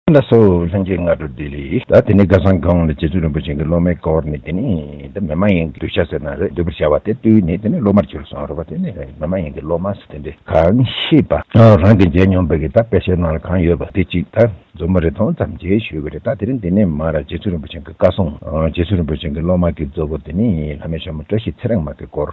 ཨ་མདའ་སོགས་ལྷན་རྒྱས་སྔ་དྲོ་ལྡི་ལི། ད་དེ་ནས་སྒ་སང་སྒང་ལ་རྗེ་བཙུན་རིན་པོ་ཆེན་གྱི་སློབ་མའི་སྐོར་ནས་དེ་ནས་དེ་མེ་མ་ཡེངས་ཀྱི་གདུལ་བྱ་ཟེར་ན་རེད་འདུལ་བར་བྱ་བ་དེ་ལྟོས་ནས་དེ་ནས་སློབ་མར་གྱུར་སོང་རེད་བ་དེ་ནས་མེ་མ་ཡེངས་ཀྱི་སློབ་མ་ཟེར་དེ་འདྲས་གང་ཤེས་པ། རང་གི་མཇལ་མྱོང་བའི་གི་ད་དཔེ་ཆའི་ནང་ལ་གང་ཡོད་པ་དེ་གཅིག་ད་མཛུབ་མོ་རེ་ཐོང་ཙམ་མཇལ་ཞུས་བ་རེད་ད་དེ་རིང་དེ་ནས་མར་རྗེ་བཙུན་རིན་པོ་ཆེན་གྱི་བཀའ་སྲུང་རྗེ་བཙུན་རིན་པོ་ཆེན་གྱི་སློབ་མ་གྱི་གཙོ་བོ་དེ་ནས་ལྷ་མོའི་ཤ་མོ་བཀྲ་ཤིས་ཚེ་རིང་མ་གྱི་སྐོར།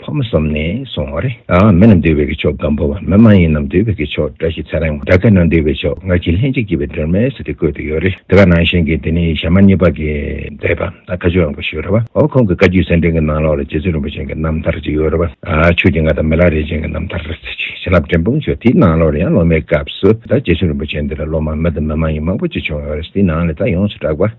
ཕོ་མོ་ཟོམ་ནས་སོང་བ་རེད། མི་རྣམས་འདུས་པའི་གི་ཕྱོགས་སྒམ་པོ་བ་མི་མ་ཡིན་རྣམས་འདུས་པའི་གི་ཕྱོགས་བཀྲ་ཤིས་ཚེ་རིང་བ་སྦྲ་ཁལ་ནང་འདུས་པའི་ཕྱོགས་སྔར་གྱི་ལྷན་ཅིག་སྐྱེས་པའི་སྒྲོལ་མས་ཟེར་ཏེ་བཀོད་དུ་ཡོད་རེད་དེ་ག་ནང་བཞིན་གི་དེ་ནི་ཞྭ་དམར་གཉིས་པ་གི་འདས་པ་ད་ཁ་ཆུ་ཨང་གོ་ཞེས་རེད་བ་འོ་ཁོང་གི་བཀའ་རྒྱུད་གསན་འཕྲིན་གི་ནང་ལོགས་ལ་རྗེ་བཙུན་རིན་པོ་ཆེན་གི་རྣམ་ཐར་ཅིག་ཡོད་རེད་བ་ཆོས་ཀྱི་ང་དང་མི་ལ་རས་ཅན་གི་རྣམ་ཐར་རེད་ཟེར་ཅིག་བྱིན་རླབས་འབྲིང་སྤུངས་ཆོས་དེའི་ནང་ལོགས་ལ་ཡང་སློབ་མའི་སྐབས་སུ་ད་རྗེ་བཙུན་རིན་པོ་ཆེན་འདི་ལ་སློབ་མ་མི་དང་མི་མ་ཡིན་མང་པོ་ཅིག་བྱུང་ཡོད་རེད་དེའི་ནང་ལས་ད་ཡོངས་སུ་གྲགས་པ།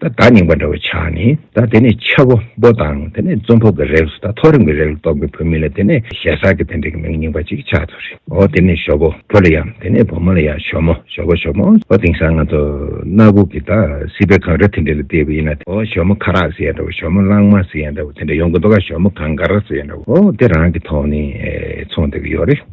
ད་བདག་རྙིང་པ་འདྲ་བོ་ཆགས་ནས་ད་དེ་ནས་ཆ་བོ་པོ་དང་དེ་ནས་རྩོམ་ཕོབ་པའི་རེགས་སུ་ད་ཐོ་རེངས་པའི་རེགས་ལ་གཏོགས་པའི་བོད་མི་ལ་དེ་ནས་ཞེ་སར་གྱི་དེ་འདྲ་གི་མིང་རྙིང་པ་ཅིག་ཆགས་ཐུབ་རེད་ཨོ་དེ་ནས་ཞོ་བོ་བོ་ལ་ཡང་དེ་ནས་བུ་མོ་ལ་ཡང་ཞོ་མོ་ཞོ་བོ་ཞོ་མོ་ཨོ་དེང་སང་ང་ཚོ་གནའ་བོ་གི་ད་སྲིད་པའི་གངས་རི་དེ་འདྲ་ལ་བལྟས་པ་ཡིན་ན་ཨོ་ཞོ་མོ་ཁ་རག་ཟེར་ཡ་འདྲ་བོ་ཞོ་མོ་གླང་མ་ཟེར་ཡ་འདྲ་བོ་དེ་འདྲ་ཡོང་གི་འདུག་ག་ཞོ་མོ་གངས་དཀར་ཟེར་ཡ་འདྲ་བོ་ཨོ་དེ་རང་གི་ཐོག་ནས་ཚོང་བསྡད་ཀྱི་ཡོད་རེད།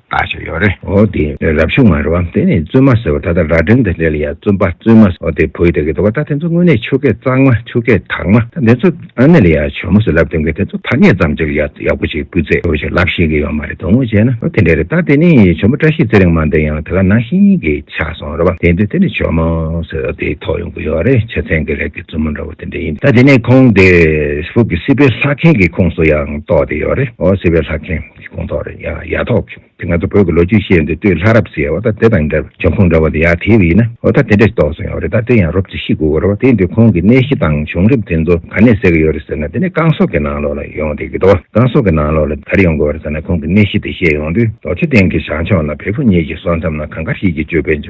བལྟ་བཞིན་ཡོད་རེད། འོ་དེ་རབ་བྱུང་མ་རེད་བ། དེ་ནས་བཙུན་མ་ཟེར་བ་ད་ལྟ་ར་སྒྲེང་དང་འབྲེལ་ཡ་བཙུན་པ་བཙུན་མ་ཟེར་བ་དེ་བོད་ཡིག་དག་གི་འདུག་བ་ད་དེ་ཚོ་དངོས་གནས་ཆོས་སྐད་གཙང་མ་ཆོས་སྐད་དག་མ་ད་དེ་ཚོ་ཨ་ནེ་ལ་ཡ་བྱོལ་མོ་ཟེར་ལབ་དེང་གི་དེ་ཚོ་ཐ་སྙད་ཙམ་ཅིག་ཡ་ཡག་པོ་ཞིག་སྤུས་ཚད་ཡོད་པ་ཞིག་ལབ་ཤེས་གི་ཡོད་མ་རེད་དོ་དངོས་བྱས་ན་ཨོ་དེ་འདྲ་རེད་ད་དེ་ནས་བྱོལ་མོ་བཀྲ་ཤིས་ཚེ་རིང་མ་འདི་ཡང་དེ་ག་ནང་བཞིན་གི་ཆགས་སོང་རེད་བ་དེ་འདི་དེ་ནས་བྱོལ་མོ་ཟེར་བ་དེ་ཐོག་ཡོང་གི་ཡོད་རེད་ཆ་ཚན་གི་ལས་ཀི་བཙུན་མོ་འདྲ་བོ་དེ་འདྲ་ཡིན་ད་དེ་ནས་ཁོང་དེ་ཧྥུ་གི་སྲིད་པའི་ལྷ་མཁན་གི་ཁོངས་སུ་ཡང་གཏོགས་དེ་ཡོད་རེད་འོ་སྲིད་པའི་ལྷ་མཁན། ཁོང་ཐོག་རེད་ཡ་ཡ་ཐོག་བྱུང་དེ་ང་ཚོ་བོད་ཀྱི་ལོ་རྒྱུས་ཤེས་ཡོན་དེ་དུས་ལྷ་རབས་སུ་ཡལ་བ་ད་དེ་དང་འདྲ་བའི་འབྱུང་ཁུངས་འདྲ་བ་དེ་ཡག་དེའི་དབུས་ན་ཨོ་ད་དེ་འདྲ་ཞིག་རྟོགས་སོང་ཡོད་རེད་ད་དེ་ཡང་རོབ་ཙེ་ཤི་དགོས་རེད་བ་དེའི་འདུས་ཁོང་གི་གནས་གཞི་དང་བྱུང་རིམ་དེ་ཚོ་ག་ནས་ཟེར་གི་ཡོད་རེད་ཟེར་ན་དེ་ནས་རྐང་སོག་གི་ནང་ལོགས་ལ་ཡོང་བསྡད་ཀྱི་འདུག་རྐང་སོག་གི་ནང་ལོགས་ལ་ག་རེ་ཡོང་དགོས་རེད་ཟེར་ན་ཁོང་གི་གནས་གཞི་དེ་ཤེས་ཡོང་དུས་རྡོ་རྗེ་གདན་གྱི་ཞང་ཕྱོགས་ན་བལ་པོ་གཉིས་ཀྱི་སོ་མཚམས་ན་གང་དགའ་ཤིས་ཀྱི་སྤྱོད་པས་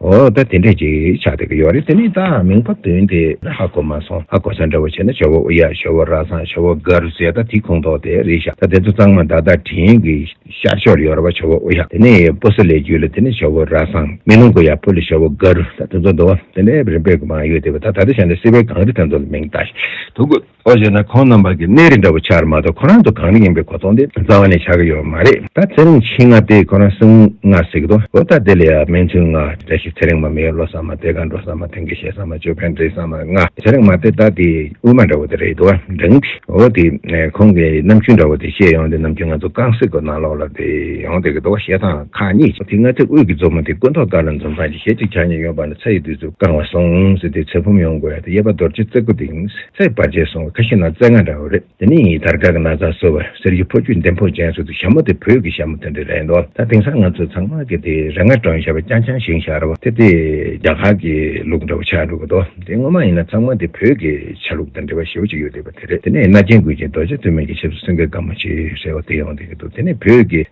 འོ་ད་དེ་འདྲས་ཅིག་ཆགས་བསྡད་ཀྱི་ཡོད་རེད་དེ་ནས་ད་མིང་པ་དོན་དེ་ཧ་གོ་མ་སོང་ཧ་གོ་ས་འདྲ་བོ་བྱས་ན་ཞོ་བོ་ཨུ་ཡ་ཞོ་བོ་ར་སངས་ཞོ་བོ་གར་ཟེར་ད་དེ་ཁུངས་དོག་དེ་རེད་ཤག་ད་དེ་ཚོ་གཙང་མ་དག་དག་དྲན་གི་ཤར་ཕྱོགས་རེད་ཡོད་ར་བ་ཞོ་བོ་ཨུ་ཡ་དེ་ནས་པོ་སི་ལེ་རྒྱུད་ལ་དེ་ནས་ཞོ་བོ་ར་སངས་མེ་ལུང་གུ་ཡ་པོ་ལི་ཞོ་བོ་གར་ད་དེ་ཚོ་འདུག་དེ་འདྲས་རིམ་པས་གི་མང་ཡོད་དེ་བས་ད་ད་ལྟ་བྱས་ན་སི་བའི་གངས་རི་དེ་ཚོ་ལ་མིང་ད་ཞིག་དུག་གོ། ཨོ་བཞེས་ན་ཁོང་རྣམ་པ་གི་གནས་རི་འདྲ་བོ་ཆགས་རེད་མ་གཏོགས་ཁོ་རང་ཚོ་གང་རིགས་ཡིན་པའི་གོ་རྟོགས་འདི་རྩ་བ་ནས་ཆགས་ཀྱི་ཡོད་མ་རེད་ད་ཚེ་རིང་ཕྱིན་ང་དེ་ཁོ་རང་སྲིང་ང་ཟེར་གི་འདུག་ཨོ་ད་དེ་ལས་ཡ་སྨན་མཚུན་ང་བཀྲ་ཤིས་ཚེ་རིང་མ་མི་ལོ་སར་མ་དེ་ག་འགྲོ་སར་མ་དེང་གི་ཤེས་སར་མ་ཅོ་ཕན་བྲིས་སར་མ་ང་ཚེ་རིང་མ་དེ་ད་དེ་དབུས་མ་འདྲ་བོ་དེ་རེད་འདུག་ཨ་འགྲིག་འགྲིག་ཨོ་དེ་ཁོང་གི་རྣམ་འགྱུར་འདྲ་བོ་དེ་བཤད་ཡོང་དེ་རྣམ་འགྱུར་ང་ཚོ་རྐང་སྲིད་གོ་ནང་ལོག་ལ་དེ་ཡོང་སྡོད་ཀྱི་འདུག་བཤད་སྟངས་ཁག་གཉིས་ཀྱིས་དེ་ང་ཚེ་དབུས་ཀྱི་མཛོ་མོ་དེ་སྐུ་མདོག་དཀར་ལ་མཛོ་མཛངས་ཀྱི་ཞལ་གཅིག་ཕྱག་གཉིས་གཡོན་པ་ན་ཚ་ཡི་དུས་སུ་རྐང་བ་སོང་ཟེར་དེ་ཚེ་བུམ་ཡོང་དགོས་ཡ་དེ་གཡས་པ་རྡོ་རྗེ་རྩེ་དགུ་དེ་ཡིན། ཚེག་དཔག་བྱས་སོང་བ་ཁ་ཤས་ན་རྩེ་ལྔ་འདྲ་བོ་རེད་དེ་ནས་ཡིན་དར་དཀར་གྱི་ན་བཟའ་གསོལ་བར་གསེར་གྱི་ཕོ་ཆུ་འདེམས་ཕོ་ཅན་ཟེར་འདུག་ཞྭ་མོ་དེ་བོད་ཀྱི་ཞྭ་མོ་དེ་འདྲ་རེད་འདུག་ད་དེང་སང་ང་ཚོ་ཚང་མ་གི་དེ་རེ་ང་དྲོན་ཞྭ་བ་རྐྱང་རྐྱང་ཞིང་ཞྭ་ར་བ་དེ་དེ་རྒྱ་གར་གྱི་ལུགས་འདྲ་བོ་ཆགས་འགྲོ་གི་འདུག་དེ་ངོ་མ་ཡིན་ན་ཚང་མ་དེ་བོད་ཀྱི་ཆ་ལུགས་དང་འབྲེལ་བ་ཞེ་བོ་ཅིག་ཡོད་བསྡད་པ་དེ་རེད་དེ་ནས་རྣ་ཅན་དགོད་ཅིང་རྡོ་རྗེ་བཙུན་མོ་ཡི་ཆབ་སྲིད་སེང་གེ་དཀར་མོ་ཆེ་ཟེར་བ་དེ་ཡོང་བསྡད་ཀྱི་འདུག་དེ་ནས་བོད་ཀྱི་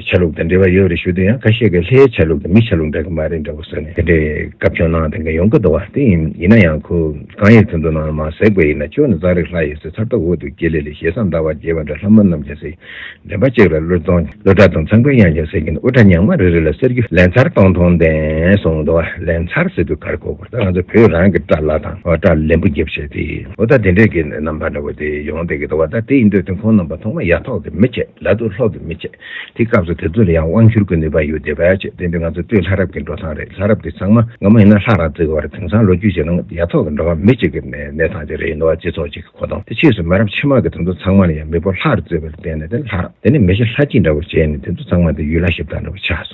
ཆ་ལུགས་དང་འབྲེལ་བ་ཡོད་རེད་ཞུ་དུས་ཡང་ཁ་ཤས་ཀྱི་ལྷའི་ཆ་ལུགས་དང་མིའི་ཆ་ལུགས་འདྲ་གི་མ་རེད་འདྲ་བོ་ཟེར་ནས་དེ་འདྲའི་སྐབས་བྱུང་གནང་དང་གི་ཡོང་གི་འདུག་བ་དེ་ཡིན་ཡིན་ན་ཡང་ཁོ། གང་ཡིན་དོན་དུ་སྣང་བ་མ་ཟེགས་པ་ཡིན་ན་ཁྱོད་ནི་རྩྭ་རིགས་ལྷ་ཡི་ཟེ་ཚར་ལྟ་བུ་འདུག་དགེ་ལེགས་ལས་ཞེ་ས་འདའ་བར་བགྱི་བ་འདྲ་ལྷ་མོ་རྣམས་ཀྱང་ཟེགས་འདྲེན་པ་གཅིག་ལ་གླུད་གཏོང་གླུད་གྲྭ་དང་ཚངས་པའི་དབྱངས་ཀྱང་ཟེགས་ཀྱིན་འདུག་དབུ་སྐྲ་ཉག་མ་རེ་རེ་ལ་གསེར་གྱི་ལན་ཚར་སྟོང་སྟོང་འདེན་སོང་འདུག་ལན་ཚར་ཟེར་དུས་གར་གོ་བར་ད་ང་ཚོ་བོད་རང་གི་སྐྲ་ལ་དང་སྐྲ་ལན་བུ་འགེབས་བྱས་ཏེ། འོ་ད་དེ་འདྲས་ཀྱི་རྣམ་པ་འདྲ་བོ་དེ་ཡོང་སྡད་ཀྱི་འདུག་བ་ད་དེ་ཡིན་དུས་དེ་ཁོང་རྣམ་པ་ཐོག་མ་ཡ་ཐོག་གི་མི་བྱེད་ལ་དུ་ལྷོག་གི་མི་བྱེད། དེ་སྐབས་སུ་དེ་ཚོ་ལ་ཡང་དབང་བསྒྱུར་གྱི་ནུས་པ་ཡོད་དེ་བས་ཆེས་བརྟན་པའི་ང་ཚོའི་སྟོད་ལྷ་རབས་ཀྱི་འགྲོ་སྟངས་རེད་ལྷ་རབས་དེ་ཚང་མ་ང་མ་ཡིན་ན་ལྷ་རང་བརྩི་གི་བར་དེང་སང་ལོ་རྒྱུས་ཀྱི་ནང་ཡ་ཐོག་གི་འགྲོ་བ་མི་གཅིག་གི་ནས་གནས་སྟངས་དེ་རེད་ནུ་བ་སྤྱི་ཚོགས་གཅིག་གི་གོ་སྟངས་དེ་ཕྱིས་སུ་མི་རབས་ཕྱི་མ་གི་དེ་ཚོ་ཚང་མ་ལ་ཡང་མི་བོ་ལྷར་བརྩི་བར་བརྟེན་ནས་དེ་ལྷ་རབས་དེ་ནས་མི་ཤི་ལྷ་སྐྱིད་འདྲ་བོ་བྱས་ནས་དེ་ཚོ་ཚང་མ་དེ་ཡུལ་ལྷ་ཞིབ་བཏགས་འདྲ་བོ་ཆགས་སོང།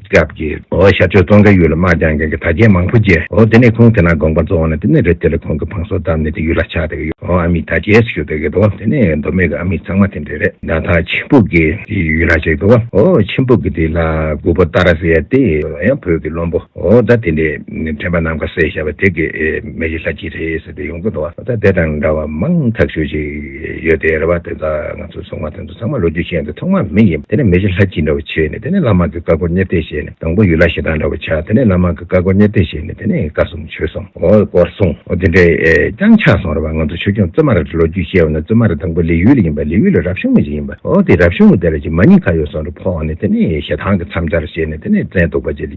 སྐབས་ཀྱི་ཨོ་ཤ་ཆོས་ཙོང་ཁའི་ཡུལ་ལ་དམག་རྒྱང་མཁན་གྱི་དར་རྒྱས་མང་པོ་རྒྱས་ཨོ་དེ་ནས་ཁོང་དེ་ན་དགོངས་པ་རྫོགས་ནས་དེ་ནས་རི་དེ་ལ་ཁོང་གི་བང་སོ་བཏབ་ནས་དེ་ཡུལ་ལ་ཕྱག་དེ་གི་ཨོ་ཨ་མི་ད་རྒྱས་སུ་ཞུགས་དེ་གི་དོ་དེ་ནས་མདོ་སྨད་གི་ཨ་མི་ཚང་མ་དེ་འདྲས་རེད། ན་ཐང་ཆིན་ཕུག་གི་དེ་ཡུལ་ལ་ཞིག་དོ་ཨོ་ཆིན་ཕུག་གི་དེ་ལ་དགུ་པོ་ཏཱ་ར་ཟེར་ཡ་དེ་ཡང་བོད་ཀྱི་བློན་པོ་ཨོ་ད་དེ་འདྲས་དྲན་པ་ནམ་མཁའ་གསལ་ཞབས་དེ་གི་མེ་གཞི་ལྷ་གཅིག་རེད་ཟེར་དེ་ཡོང་གི་འདུག་ཨོ་ད་དེ་དང་འདྲ་བ་མང་ཐག་ཤོས་ཞིག་ཡོད་དེ་རེད་བ་དེ་ད་ང་ཚོས་སོང་བ་དེ་ཚོ། ཚང་མ་ལོ་རྒྱུས་ཤེས་ཡོན་དུ་ཐོག་མར་མི་ཡིན་པ་དེ་ནས་མི་བཞི་ལྷ་སྐྱིད་འདྲ་བོ་བྱས་ནས་དེ་ནས་བླ་མ་གི་བཀའ་བསྒོ་གཉེར་གཏད་བྱས་ནས་དང་པོ་ཡུལ་ལྷ་ཞེ་སྡང་འདྲ་བོ་བྱ་དེ་ནས་བླ་མ་གི་བཀའ་བསྒོ་གཉེར་གཏད་བྱས་ནས་དེ་ནས་བཀའ་གསུང་ཆོས་གསུང་འོ་སྐོར་གསུང་འོ་དེ་འདྲས་ཀྱང་ཆགས་སོང་རེད་བ་ང་ཚོ་ཆོས་སྐྱོང་བཙུན་མ་ར་ལོ་རྒྱུས་ཤེས་ཡོན་ན་བཙུན་མ་ར་དང་པོ་ལི་ཡུལ་ལ་ཡིན་པ་ལི་ཡུལ་ལ་རབ་བྱུང་མི་ཞིག་ཡིན་པ་འོ་དེ་རབ་བྱུང་མི་དེ་ལ་ཅིག་མ་གཉིས་ཁ་ཡོད་སོང་རེད་ཕོག་ནས་དེ་ནས་ཞེ་སྡང་གི་མཚམས་སྦྱར་བྱས་ནས་དེ་ནས་བཙན་དུག་པ་ཅིག་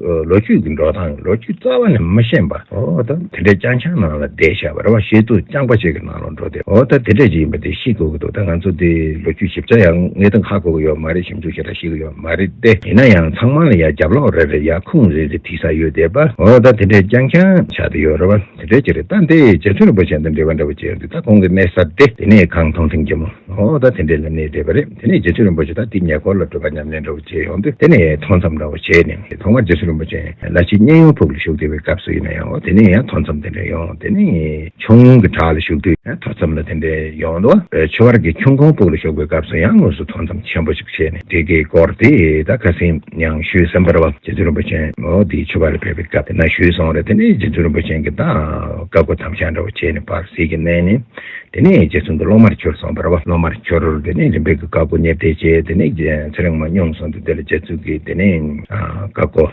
ལོ་རྒྱུས་ཀྱི་འགྲོ་སྟངས་ལོ་རྒྱུས་རྩ་བ་ནས་མི་ཤེས་པར་འོ་ད་དེ་འདྲའི་སྤྱང་ཆང་ནང་ལ་བསྡད་ཤག་པ་རེད་བ་ཞེས་དུ་སྤྱང་པ་ཞིག་གི་ནང་ལ་འགྲོ་དེ་འོ་ད་དེ་འདྲ་ཞིག་ཡིན་པ་དེ་ཤེས་དགོས་ཀྱི་འདུག་ད་ང་ཚོ་འདི་ལོ་རྒྱུས་ཞིབ་ཆ་ཡང་ངའི་དང་ཁ་གོ་གི་ཡོད་མ་རེད་ཞིབ་འཇུག་བྱེད་དང་ཤེས་ཀྱི་ཡོད་མ་རེད་དེ་ཡིན་ན་ཡང་ཚང་མ་ལ་ཡང་རྒྱབ་ལོག་རེ་རེ་ཡང་ཁུངས་རེ་རེ་ཐིག་ས་ཡོད་དེ་བ་འོ་ད་དེ་འདྲའི་སྤྱང་ཆང་ཆགས་དེ་ཡོད་རེད་བ། དེ་ལྟར་བྱས་ཏེ་ད་དེ་རྗེ་བཙུན་རིན་པོ་ཆེ་དང་འབྲེལ་བ་འདྲ་པོ་བྱས་ཏེ་ད་ཁོང་གི་གནས་གསར་ཏེ་དེ་ནས་གང་མཐོང་ཐེངས་རྒྱ་མོ་ཨོ་ད་དེ་འདྲས་ལ་གནས་བསྡད་པ་རེད་དེ་ནས་རྗེ་བཙུན་རིན་པོ་ཆེ་ད་དེ་ཉེ་འཁོར་ལ་བྲོས་པ་ཉམས་ལེན་འདྲ་པོ་བྱས་ཡོང་དུས་དེ་ནས་མཐོང་མཚམས་འདྲ་པོ་བྱས་ནས་དེ་མཐོང་བ་རྗེ་བཙུན་རིན་པོ་ཆེ་ལ་ཕྱིས་གཉན་ཡོངས་ཕུག་ལ་བཞུགས་བསྡད་པའི་སྐབས་སུ་ཡིན་ན་ཡང་འོ་དེ་ནས་ཡང་མཐོང་མཚམས་དེ་འདྲས་ཡོང་དེ་ནས་ཆུང་ངུ་གི་བྲག་ལ་བཞུགས་དུས་མཐོ་མཚམས་ལ་དེ་འདྲས་ཡོང་འདུག་ཆོས་བར་གྱི་ཁྱུང་ཁོང་ཕུག་ལ་བཞུགས་པའི་སྐབས་སུ་ཡང་དངོས་སུ་མཐོང་མཚམས་ཆེན་པོ། ཞེས་ནས་བྲིས་ཀྱིས་བསྐོར་ཏེ་ད་ག་ཟེ་མྱང་ཞུས་སམ་བར་བ་རྗེ་བཙུན་རིན་པོ་ཆེན་མོ་འདི་མཆོད་པ་ལ་ཕེབས་པའི་སྐབས་དེ་ན་ཞུས་སོང་རེད་དེ་ནས་རྗེ་བཙུན་རིན་པོ་ཆེན་གྱིས་ད་ག་སྒོ་དམ་བཞག་འདྲ་བོ་བྱས་ནས་བར་སྲིད་ཀྱི་གནས་ནས་དེ་ནས་རྗེ་བཙུན་དུ་སློབ་མར་གྱུར་སོང་བར་བ་སློབ་མར་གྱུར་དེ་ནས་རིམ་པས་ཀྱི་བཀའ་བསྒོ་ཉེར་བརྡའི་རྗེས་དེ་ནས་ཚེ་རིང་མ་སྙོམས་སོང་སྟེ་དེ་ལ་རྗེ་བཙུན་གྱིས་དེ་ནས་བཀའ་བསྒོ།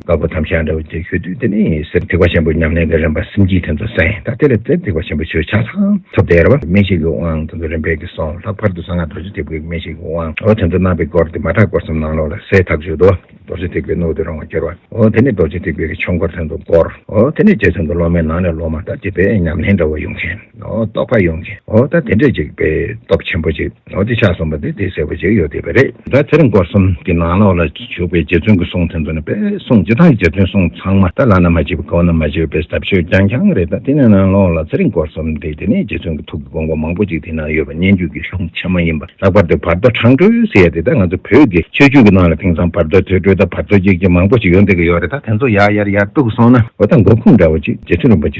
དཀར་པོ་དམ་བཞག་འདྲ་བོ་བཅས་ཞུ་དུས་དེ་ནི་གསེར་ཐིགས་པ་ཆེན་པོའི་ཉམས་ལེན་གྱི་རིམ་པ་སེམས་ཀྱི་དོན་དུ་གསན་ད་དེ་ལས་གསེར་ཐིགས་པ་ཆེན་པོ་ཆོས་ཆགས་དང་ཐུབ་བསྟན་རབ་དབྱངས་མན་ཤེལ་གྱི་དབང་དོན་དུ་རིམ་པས་ཀྱིས་སོང་ལྷག་པར་དུ་གསང་སྔགས་རྡོ་རྗེ་ཐེག་པའི་མན་ཤེལ་གྱི་དབང་འོ་དོན་དུ་གནང་བའི་སྐོར་དེ་མ་གྲགས་སྐོར་གསུམ་ནང་ལོགས་ལ་གསལ་ཐག་ཆོད་དོ། རྡོ་རྗེ་ཐེག་པའི་སྣོད་དུ་རང་བ་སྐྱོར་བ་འོ་དེ་ནི་རྡོ་རྗེ་ཐེག་པའི་ཆོས་འཁོར་དོན་དུ་བསྐོར་འོ་དེ་ནི་རྗེ་བཙུན་དུ་སློབ་མའི་ནང་ནས་སློབ་མ་ལྟར་གྱི་པའི་ཉམས་ལེན་འདྲ་བོ་ཡོང་མཁན་འོ་རྟོགས་པ་ཡོང་མཁན་འོ་ད་དེ་འདྲས་ཅིག་པའི་སྟོབས་ཆེན་པོ་ཅིག། ལོ་བརྒྱ་ཆ་གསུམ་པ་དེ་དེ་གསལ་པོ་ཞིག་ཡོད་བསྡད་པ་རེད། ད་དེར་མགོ་གསུམ་གྱི་ནང་ལོགས་ལ་བྱུགས་པའི་རྗེ་བཙུན་གྱི་གསུང་ཐོན་ཐོན་ནས་པས་གསུང་ཇི་ལྟར་རྗེ་བཙུན་གསུང་ཚང་མ་ད་ལ་ན་མ་བྱས་པའི་གོང་ན་མ་བྱས་པའི་ཟབ་ཆོས་རྐྱང་རྐྱང་རེད་ད་དེ་ནས་ནང་ལོགས་ལ་ཚེ་རིང་མགོ་གསུམ་དེ་དེ་ནས་རྗེ་བཙུན་གྱི་ཐུགས་ཀྱི་དགོངས་པ་མང་པོ་ཅིག་དེ་ནང་ཡོད་པ་སྙན་རྒྱུད་ཀྱི་གཞུང་ཆེན་མ་ཡིན་པ་ལྷག་པར་དུ་བར་དོ་འཕྲང་སྒྲོལ་ཟེར་ཡ་དེ་ད་ང་ཚོ་བོད་ཀྱི་ཆོས་བརྒྱུད་ཀྱི་ནང་ལ་དེང་སང་བར་དོའི་ཐོས་གྲོལ་དང་བར་དོ་གཅིག་ཅིག་མང་པོ་ཞིག་ཡོད་འདོད་ཀྱི་ཡོད་རེད་ད་དེ་ཚོ་ཡར་ཡར་ཡར་བཏུགས་སོང་ན་འོ་ད་མགོ་ཁུངས་འདྲ་བོ་ཅིག་རྗེ་བཙུན་རིན་པོ་ཆེ་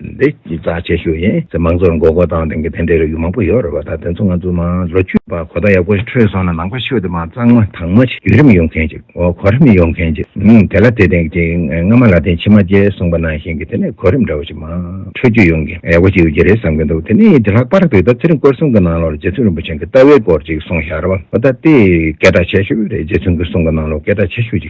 འདི་ཅི་ཙག་ཆེ་ཤོས་ཡིན། ཚེ་དམངས་ཚོར་མགོ་སྐོར་བཏང་དོན་གྱི་དེ་འདྲའི་རེ་བ་མང་པོ་ཡོད་རེད་བ་ད་དེ་ཚོ་ང་ཚོ་དམངས་ལོ་རྒྱུས་པ་གོ་བརྡ་ཡག་པོ་ཞིག་འཕྲོད་སོང་ན་ནང་པ་ཤོས་དེ་མ་གཙང་མ་དྭངས་མ་ཞིག་བརྒྱུད་རིམ་ཡོང་མཁན་ཅིག་འོ་གོ་རིམ་ཡོང་མཁན་ཅིག་ཨང་དེ་ལ་དེ་སྟེང་གི་སྔ་མ་ལ་དེ་ཕྱི་མ་རྗེས་གསུངས་པ་ནང་བཞིན་གྱི་དེ་ནས་གོ་རིམ་འདྲ་བོ་ཞིག་མང་འཕྲོད་རྒྱུ་ཡོང་གི་ཡག་པོ་ཞིག་ཡོད་ཀྱི་རེད་བསམ་གྱི་འདུག་དེ་ནས་ཡིན་དེ་ལྷག་པར་དུ་ད་ཚེ་རིང་སྐོར་གསུམ་གྱི་ནང་ལོར་རྗེ་བཙུན་རིན་པོ་ཆེན་གྱི་ལྟ་བའི་སྐོར་ཅིག་གསུངས་ཤག་རེད་བ་འོ་ད་དེ་སྐད་གྲགས་ཆེ་ཤོས་རེད་རྗེ་བཙུན་གྱི་གསུང་གི་ནང་ལོར་སྐད་གྲགས་ཆེ་ཤོས་ཅིག་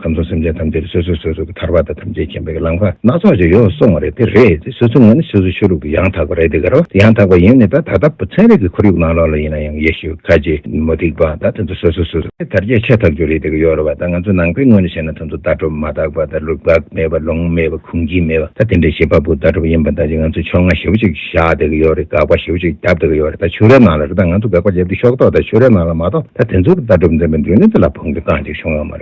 ཁམས་དང་སེམས་ཅན་ཐམས་ཅད་ལ་སོ་སོས་སོ་སོ་གི་ཐར་པ་དང་ཐམས་ཅད་མཁྱེན་པའི་གི་ལམ་ཁ་སྣ་ཚོགས་ཀྱིས་ཡོངས་སུ་སོང་བ་རེད་དེ་རེད་དེ་སོ་སོའི་ངོས་ནས་སོ་སོའི་ཆོས་ལུགས་ཀྱི་ཡང་དག་པ་རེད་དེ་ག་རེ་བ་ཡང་དག་པ་ཡིན་ནི་ད་ད་ལྟ་བུ་ཚན་རིག་གི་ཁོར་ཡུག་ནང་ལོགས་ལ་ཡིན་ན་ཡང་ཡེ་ཤུ་ཁ་ཅིག་མུ་སྟེགས་པ་དང་དེ་ཚོ་སོ་སོས་སོ་སོ་གི་དར་རྒྱས་ཕྱེ་ཐག་གཅོད་རེད་དེ་ག་ཡོད་རེད་བ་ད་ང་ཚོའི་ནང་པའི་ངོས་ནས་བཤད་ན་དེ་ཚོ་ལྟ་གྲུབ་མ་དག་པ་དང་ལུགས་དག་མེད་པ་ལུང་མེད་པ་གུང་སྐྱིད་མེད་པ་ད་དེ་འདྲའི་བྱེད་པ་པོ་ལྟ་གྲུབ་ཡིན་པ་ད་ཅི་ང་ཚོས་ཕྱོགས་སྔ་ཞེ་བོ་ཅིག་བཞག་དེ་ག་ཡོད་རེད་དགག་པ་ཞེ་བོ་ཅིག་བརྒྱབ་དེ་ག་ཡོད་རེད་ད་ཆོས་རའི་ནང་ལ་རེད་ད་ང་ཚོ་དགག་པ་བརྒྱབ་དུས་ཤོག་ཐོག་ད་ཆོས་རའི་ནང་ལ་མ་གཏོགས་ད་དེ་ཚོ་གི་ལྟ་གྲུབ་འཛིན་པའི་མདུན་ལམ་དེ་ལ་བོང་གི་རྐང་ཅིག་བྱུང་ཡོད་མ་རེད།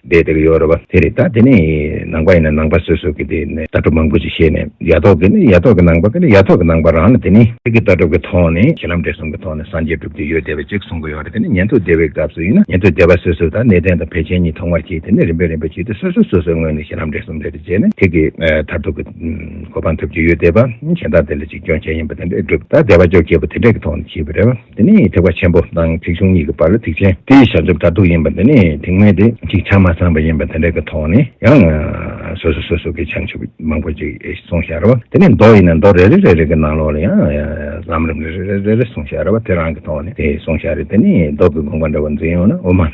བསྡད་དེ་ཡོད་རེད་བ། དེ་རེད་ད་དེ་ནས་ནང་པ་ཡིན་ན་ནང་པ་སོ་སོ་གི་དེ་ནས་ལྟ་གྲུབ་མང་པོ་ཞིག་བཤད་ནས་ཡ་ཐོག་གི་ནི་ཡ་ཐོག་གི་ནང་པ་གི་ནི་ཡ་ཐོག་གི་ནང་པ་རང་ལ་དེ་ནི་ཚིག་གི་ལྟ་གྲུབ་ཀྱི་ཐོག་ནས་གཞི་ལམ་འབྲས་གསུམ་གི་ཐོག་ནས་སངས་རྒྱས་གྲུབ་ཀྱི་ཡོད་བསྡད་པ་ཅིག་གསུང་གི་ཡོད་རེད་དེ་ནི་ཉན་ཐོས་སྡེ་བའི་སྐབས་སུ་ཡིན་ན་ཉན་ཐོས་སྡེ་བ་སོ་སོ་དང་གནས་བརྟན་དང་བེ་ཅན་གཉིས་ཐོག་མར་གྱིས་དེ་ནས་རིམ་པས་རིམ་པས་བྱས་ཏེ་སོ་སོ་སོ་སོའི་ངོས་ནས་གཞི་ལམ་འབྲས་གསུམ་རེ་རེ་བྱས་ནས་ཚིག་གི་མཐར་ཐུག་གི་གོ་འཕང་ཐོབ་ཀྱི་ཡོད་བསྡད་པ་གཞན་དག་དེ་ལ་ཅིག་སྐྱོན་ཅན་ཡིན་པ་དེ་འདྲས་གྲུབ་མཐའ་བདེ་བ་འཇོག་སྐྱེས་པོ་དེ་འདྲས་ཀྱི་ཐོག་ནས་བྱས་པ་རེད་བ། འདི་ནི་ཐེག་པ་ཆེན་པོ་དང་ཐེག་ཆུང་གཉིས་ཀྱི་བར་ལ་ཐེག་ཆེན་དེ་བྱང་ཆུབ་མཐར་ཐུག་ཡིན་པ་འདི་ནི་དེ་སྔོན་དེ་གཅིག་ཆ་མ་ཚང་བ་ཡིན་པ་དེ་འདྲ་གི་ཐོག་ནས་ཡང་སོ་སོ་སོ་སོ་གི་བྱང་ཆུབ་མང་པོ་ཅིག་གསུང་ཤ་ར་བ་དེ་ནི་མདོ་ཡིན་ན་མདོ་རེ་རེ་རེ་རེ་གི་ནང་ལོགས་ལ་ཡང་ལམ་རིམ་རེ་རེ་རེ་རེ་གསུང་ཤ་ར་བ་དེ་རང་གི་ཐོག་ནས་དེ་གསུང་ཤ་རེ་དེ་ནི་མདོ་གི་དགོངས་པ་འདྲ་བོ་འཛིན་ཡོང་ན་དབུ་མ།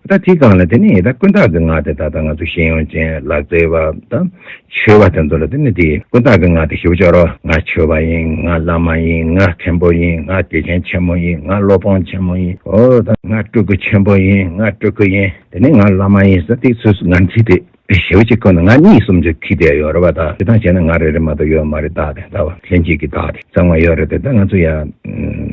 ད་དེ་གང་ལ་དེ་ནི་ད་ཀུན་བརྟགས་ཀྱི་ངག་དེ་ད་ལྟ་ང་ཚོ་ཤེས་ཡོན་ཅན་ལག་རྩལ་བ་དང་ཆོས་བ་དེ་ཚོ་ལ་དེ་ནི་དེ་ཀུན་བརྟགས་ཀྱི་ངག་དེ་ཞུ་ཆོག་རོགས་ང་ཆོས་བ་ཡིན་ང་བླ་མ་ཡིན་ང་མཁན་པོ་ཡིན་ང་དགེ་རྒན་ཆེན་མོ་ཡིན་ང་སློབ་དཔོན་ཆེན་མོ་ཡིན་འོ་ད་ང་སྤྲུལ་སྐུ་ཆེན་པོ་ཡིན་ང་སྤྲུལ་སྐུ་ཡིན་དེ་ནི་ང་བླ་མ་ཡིན་ཟེར་དེ་ཚོས་ང་ཚོའི་དེ། བའི་ཞེའུ་གཅིག་ཁོ་ན་ང་གཉིས་གསུམ་བཅུ་ཁྱི་དེ་ཡོད་རེད་བ་ད་དེ་དང་བྱས་ན་ང་རེ་རེ་མ་གཏོགས་ཡོད་མ་རེད་ད་དེ་ད་བ་ལྷན་ཅིག་གིས་ད་དེ་གཙང་མ་ཡོད་རེད་དེ་ད་ང་ཚོ་ཡ།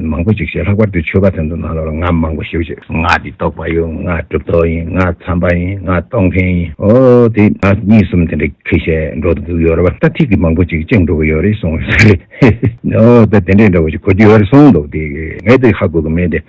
མང་པོ་ཅིག་བྱས་ལྷག་པར་དུ་ཆོས་པ་དེ་ཚོ་ནང་ལོགས་ལ་ང་མང་པོ་ཞེའུ་གཅིག། ང་དེ་གཏོགས་པ་ཡོད་ང་གྲུབ་ཐོབ་ཡིན་ང་འཚམས་པ་ཡིན་ང་གཏོགས་མཁན་ཡིན་ཨོ་དེ་ང་གཉིས་གསུམ་དེ་འདྲ་ཁྱི་བྱས་འགྲོ་དུ་འདུག་ཡོད་རེད་བ་ད་ཐིག་གིས་མང་པོ་ཅིག་བཅིངས་འགྲོ་གི་ཡོད་རེད་གསུངས་ཨོ་ད་དེ་འདྲས་འདྲ་བོ་ཅིག་གོ་རྒྱུ་ཡོད་རེད་གསུངས་འདུག་དེ་ངས་དེ་ཧ་གོ་གི་མེད་དེ།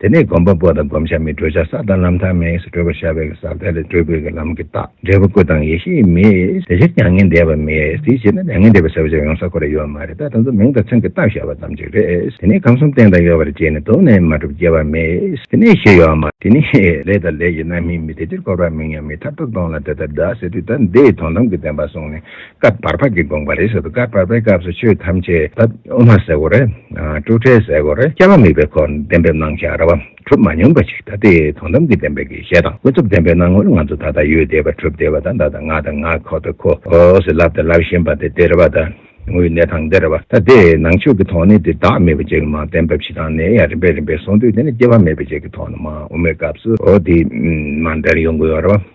དེ་ནས་སྒོམ་པ་པོ་དང་བསྒོམ་བྱ་མི་སྤྲོས་བྱ་ས་དང་ལམ་ཐ་མའི་སུ་སྤྲོས་པར་བྱ་བའི་གེ་སར་ཏེ་ལས་སྤྲོས་དགོས་ཀྱི་ལམ་གྱི་རྟགས་འབྲས་བུ་སྐུ་དང་ཡེ་ཤེས་མེད་དེ་ཕྱིར་མྱ་ངན་འདས་པ་མེད་དེའི་ཕྱིར་ན་མྱ་ངན་འདས་པའི་ས་བོན་ཅན་ཡོང་ས་གོ་རེ་ཡོད་མ་རེད་ད་དེ་ཚོ་མིང་དང་མཚན་གྱི་རྟགས་བྱ་བ་ཙམ་གྱིས་རེད་དེ་ནས་ཁམས་གསུམ་བསྟན་དང་ཡོད་པར་བརྗེད་ནས་དོགས་ནས་མ་གྲུབ་སྐྱེ་བ་མེད་དེ་ནས་ཞེས་ཡོད་མ། དེ་ནས་ལས་དང་ལས་ཀྱི་རྣམ་སྨིན་མེད་དེ་ཕྱིར་འཁོར་བ་མིང་ཡང་མེད་ཐར་ཐབས་སྟོང་ལ་དེ་ལྟར་བདག་སེལ་དུས་ད་ལྟའི་དོན་དམ་གྱི་བདེན་པ་བཟུང་ནས་སྐབས་བར་པ་འདི་དགོངས་པ་རེད་ཟེར་དུས་སྐབས་བར་པའི་སྐབས་སུ་ཆོས་ཐམས་ཅད་དཔྱད་དབུ་མ་ཟེར་གོ་རེ། སྤྲོས་བྲལ་ཟེར་གོ་རེ་སྐྱེ་བ་མེད་པའི་འཁོར་གདན་འབེབས་གནང་བཞག་ར་བ་གྲུབ་མ་མྱོང་པ་ཞིག་ད་ལྟའི་དོན་དམ་གྱི་བདེན་པའི་དགེ་བཤེས་དང་ཀུན་རྫོབ་བདེན་པའི་སྣང་ངོར་ང་ཚོ་ད་ལྟ་ཡུལ་བདེ་བ་གྲུབ་བདེ་བ་དང་ད་ལྟ་ང་དང་ང་ཁོ་ད་ཁོ་ཟེར་ལབ་དང་ལབ་བཞིན་པ་དེ་བདེ་ར་བ་ད་དངོས་གནས་དང་བདེ་ར་བ་ད་དེ་ནང་ཆོས་ཀྱི་ཐོག་ནས་དེ་བདག་མེད་པ་ཅན་གྱི་མ་བདེན་པ་ཕྱི་དང་ནས་ཡང་རིམ་པས་རིམ་པས་སོང་དུས་དེ་ནི་སྐྱེ་བ་མེད་པ་ཅན་གྱི་ཐོག་ནས་མ་དབུ་མའི་སྐབས་སུ་དེ་མ་འདྲེར་ཡོང་གི་ཡོད་ར་བ།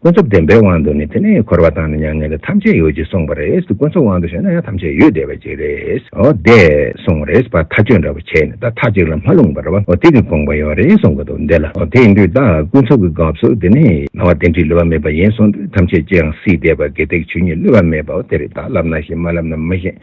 ཀུན་རྫོབ་བདེན་པའི་དབང་དུ་ནི་དེ་ནི་འཁོར་བ་དང་ནི་མྱ་ངན་ལས་ཐམས་ཅད་ཡོད་ཅེས་གསུངས་པ་རེད་ཀུན་རྫོབ་དབང་དུ་བྱས་ན་ཡང་ཐམས་ཅད་ཡོད་བདེ་བ་ཅིག་རེད་འོ་བདེ་གསུངས་རེད་བ་མཐའ་དཔྱོད་འདྲ་བོ་བྱས་ནས་ད་ཐག་གཅིག་ལ་མ་ལྷུང་བར་བ་འོ་དེ་གི་དགོངས་པ་ཡོད་རེད་གསུངས་གི་འདུག་འདི་ལ་འོ་དེ་ཡིན་དུས་ད་ཀུན་རྫོབ་ཀྱི་སྐབས་སུ་དེ་ནི་སྣང་བ་དེ་འདྲིས་ལུས་པ་མེད་པ་ཡིན་གསུངས་དུས་ཐམས་ཅད་ཅིའང་སྲིད་བདེ་བ་དགེ་སྡིག་ཆོས་ཉིད་ལུས་པ་མེད་པའོ་དེ་རིགས་དག་བསླབ་ན་ཤེས་མ་བསླབ་ན་མི་ཤེས།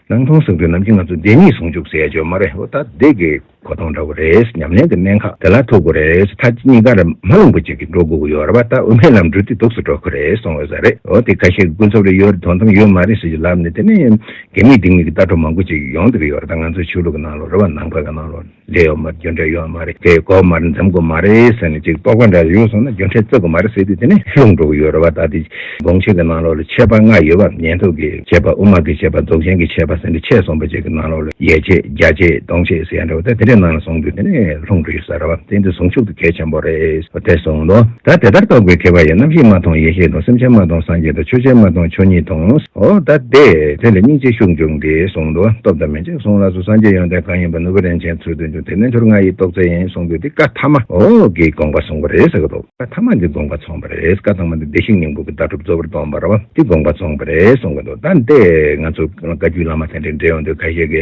ནང་མཐོང་གསུང་རྒྱུན་ནམ་གྱི་ང་ཚོ་བདེན་གཉིས་ཟུང་འཇུག་ཟེར་ཡ་ཆོད་མ་རེད་ཨོ་ད་བདེ་གི་གོ་ཐོང་འདྲ་བོ་རེད་ཉམས་ལེན་གི་གནད་འགག་དེ་ལ་ཐུག་གི་རེད་མཐའ་གཉིས་ཀར་མ་རླུང་བུ་གཅིག་གིས་འགྲོ་དགོས་ཀྱི་ཡོད་རེད་བ་ད་དབུ་མའི་ལམ་འགྲོ་དུས་དུགས་སུ་འགྲོ་གི་རེད་གསུང་འོས་ས་རེད་ཨོ་དེ་ཁ་ཤས་ཀྱི་ཀུན་རྫོབ་རེད་ཡོད་རེད་དོན་དམ་ཡོད་མ་རེད་ཟེར་གྱི་ལབ་ནས་དེ་ནས་དགེ་མེད་སྡིག་མེད་ཀྱི་ལྟ་གྲུབ་མང་པོ་ཅིག་ཡོང་སྡོད་ཀྱི་ཡོད་རེད་ད་ང་ཚོའི་ཆོས་ལུགས་ཀྱི་ནང་ལོ་རེད་བ་ནང་པའི་ནང་ལོ། འདྲེ་ཡོད་མར་རྒྱུ་འབྲས་ཡོད་མ་རེད་དེ་གོ་མ་རེད་འཛེམ་དགོས་མ་རེད་ཟེར་ནས་ཅིག་རྟོག་པ་འདྲ་ཡོད་སོང་ན་རྒྱུ་འབྲས་བརྩི་དགོས་མ་རེད་ཟེར་དུས་དེ་ནས་ལྷུང་འགྲོ་གི་ཡོད་རེད་བ་ད་ལྟའི་དགོང་ཆེན་གྱི་ནང་ལོགས་ལ་ཆད་པ་ལྔ་ཡོད་བ་ཉན་ཐོས་ཀྱི་ཆད་པ་དབུ་མ་གི་ཆད་པ་རྫོགས་ཆེན་གྱི་ཆད་པ་ཟེར་འདྲ་ཆད་སོང་བ་ཅིག་གི་ནང་ལོགས་ལ་ཡས་ཆད་བརྒྱ་ཆད་སྟོང་ཆད་ཟེར་ཡ་འདྲ་བ་ད་དེ་འདྲའི་ནང་ལ་སོང་དུས་དེ་ནས་ལྷུང་འགྲོ་ཡོད་ས་རེད་བ་དེ་འདི་ཟུང་འཇུག་ཏུ་གལ་ཆེན་པོ་རེད་བ་དེ་སོང་ལོ། ད་དེ་ལྟར་རྟོག་པའི་ཁེ་བ་ཡི་རྣམ་ཤེས་མ་མཐོང་ཡེ་ཤེས་དང་སེམས་ཅན་མ་མཐོང་སངས་རྒྱས་དང་ཆོས་ཅན་མ་མཐོང་ཆོས་ཉིད་མཐོང་ཨོ་ད་དེ་དེ་ལ་སྙིང་རྗེ་ཤུགས་འབྱུང་སྟེ་སོང་ལོ་སྟོབས་དང། ཅེས་གསུངས་ལགས་སོ་སངས་རྒྱས་ཡོན་ཏན་གང་ཡིན་པ་ནུབ་བོད་རིན་ཆེན་ཚུལ་སྟོན་རྒྱུ་དེ་ནི་འཁྱོར་ང་ཡི་རྟོགས་བརྩལ་ཡིན་གསུངས་དུས་འདི་བཀའ་ཐ་མ་འོག་གི་དགོངས་པ་གསུངས་པ་རེད་ཟེར་གི་འདུག་བཀའ་ཐ་མ་འདི་དགོངས་པ་ཚོང་པ་རེད་བཀའ་ཐང་མ་འདི་བདེ་གཤེགས་སྙིང་པོ་གི་ཟླ་གྲུབ་གཙོ་བོར་སྟོང་པ་ར་བ་འདི་དགོངས་པ་ཚོང་པ་རེད་གསུངས་གི་འདུག་ད་ལྟ་ང་ཚོ་བཀའ་བརྒྱུད་བླ་མ་དེ་འདྲའི་འབྲེལ་ཡོད་འདུག་ཁ་ཤས་ཀྱི་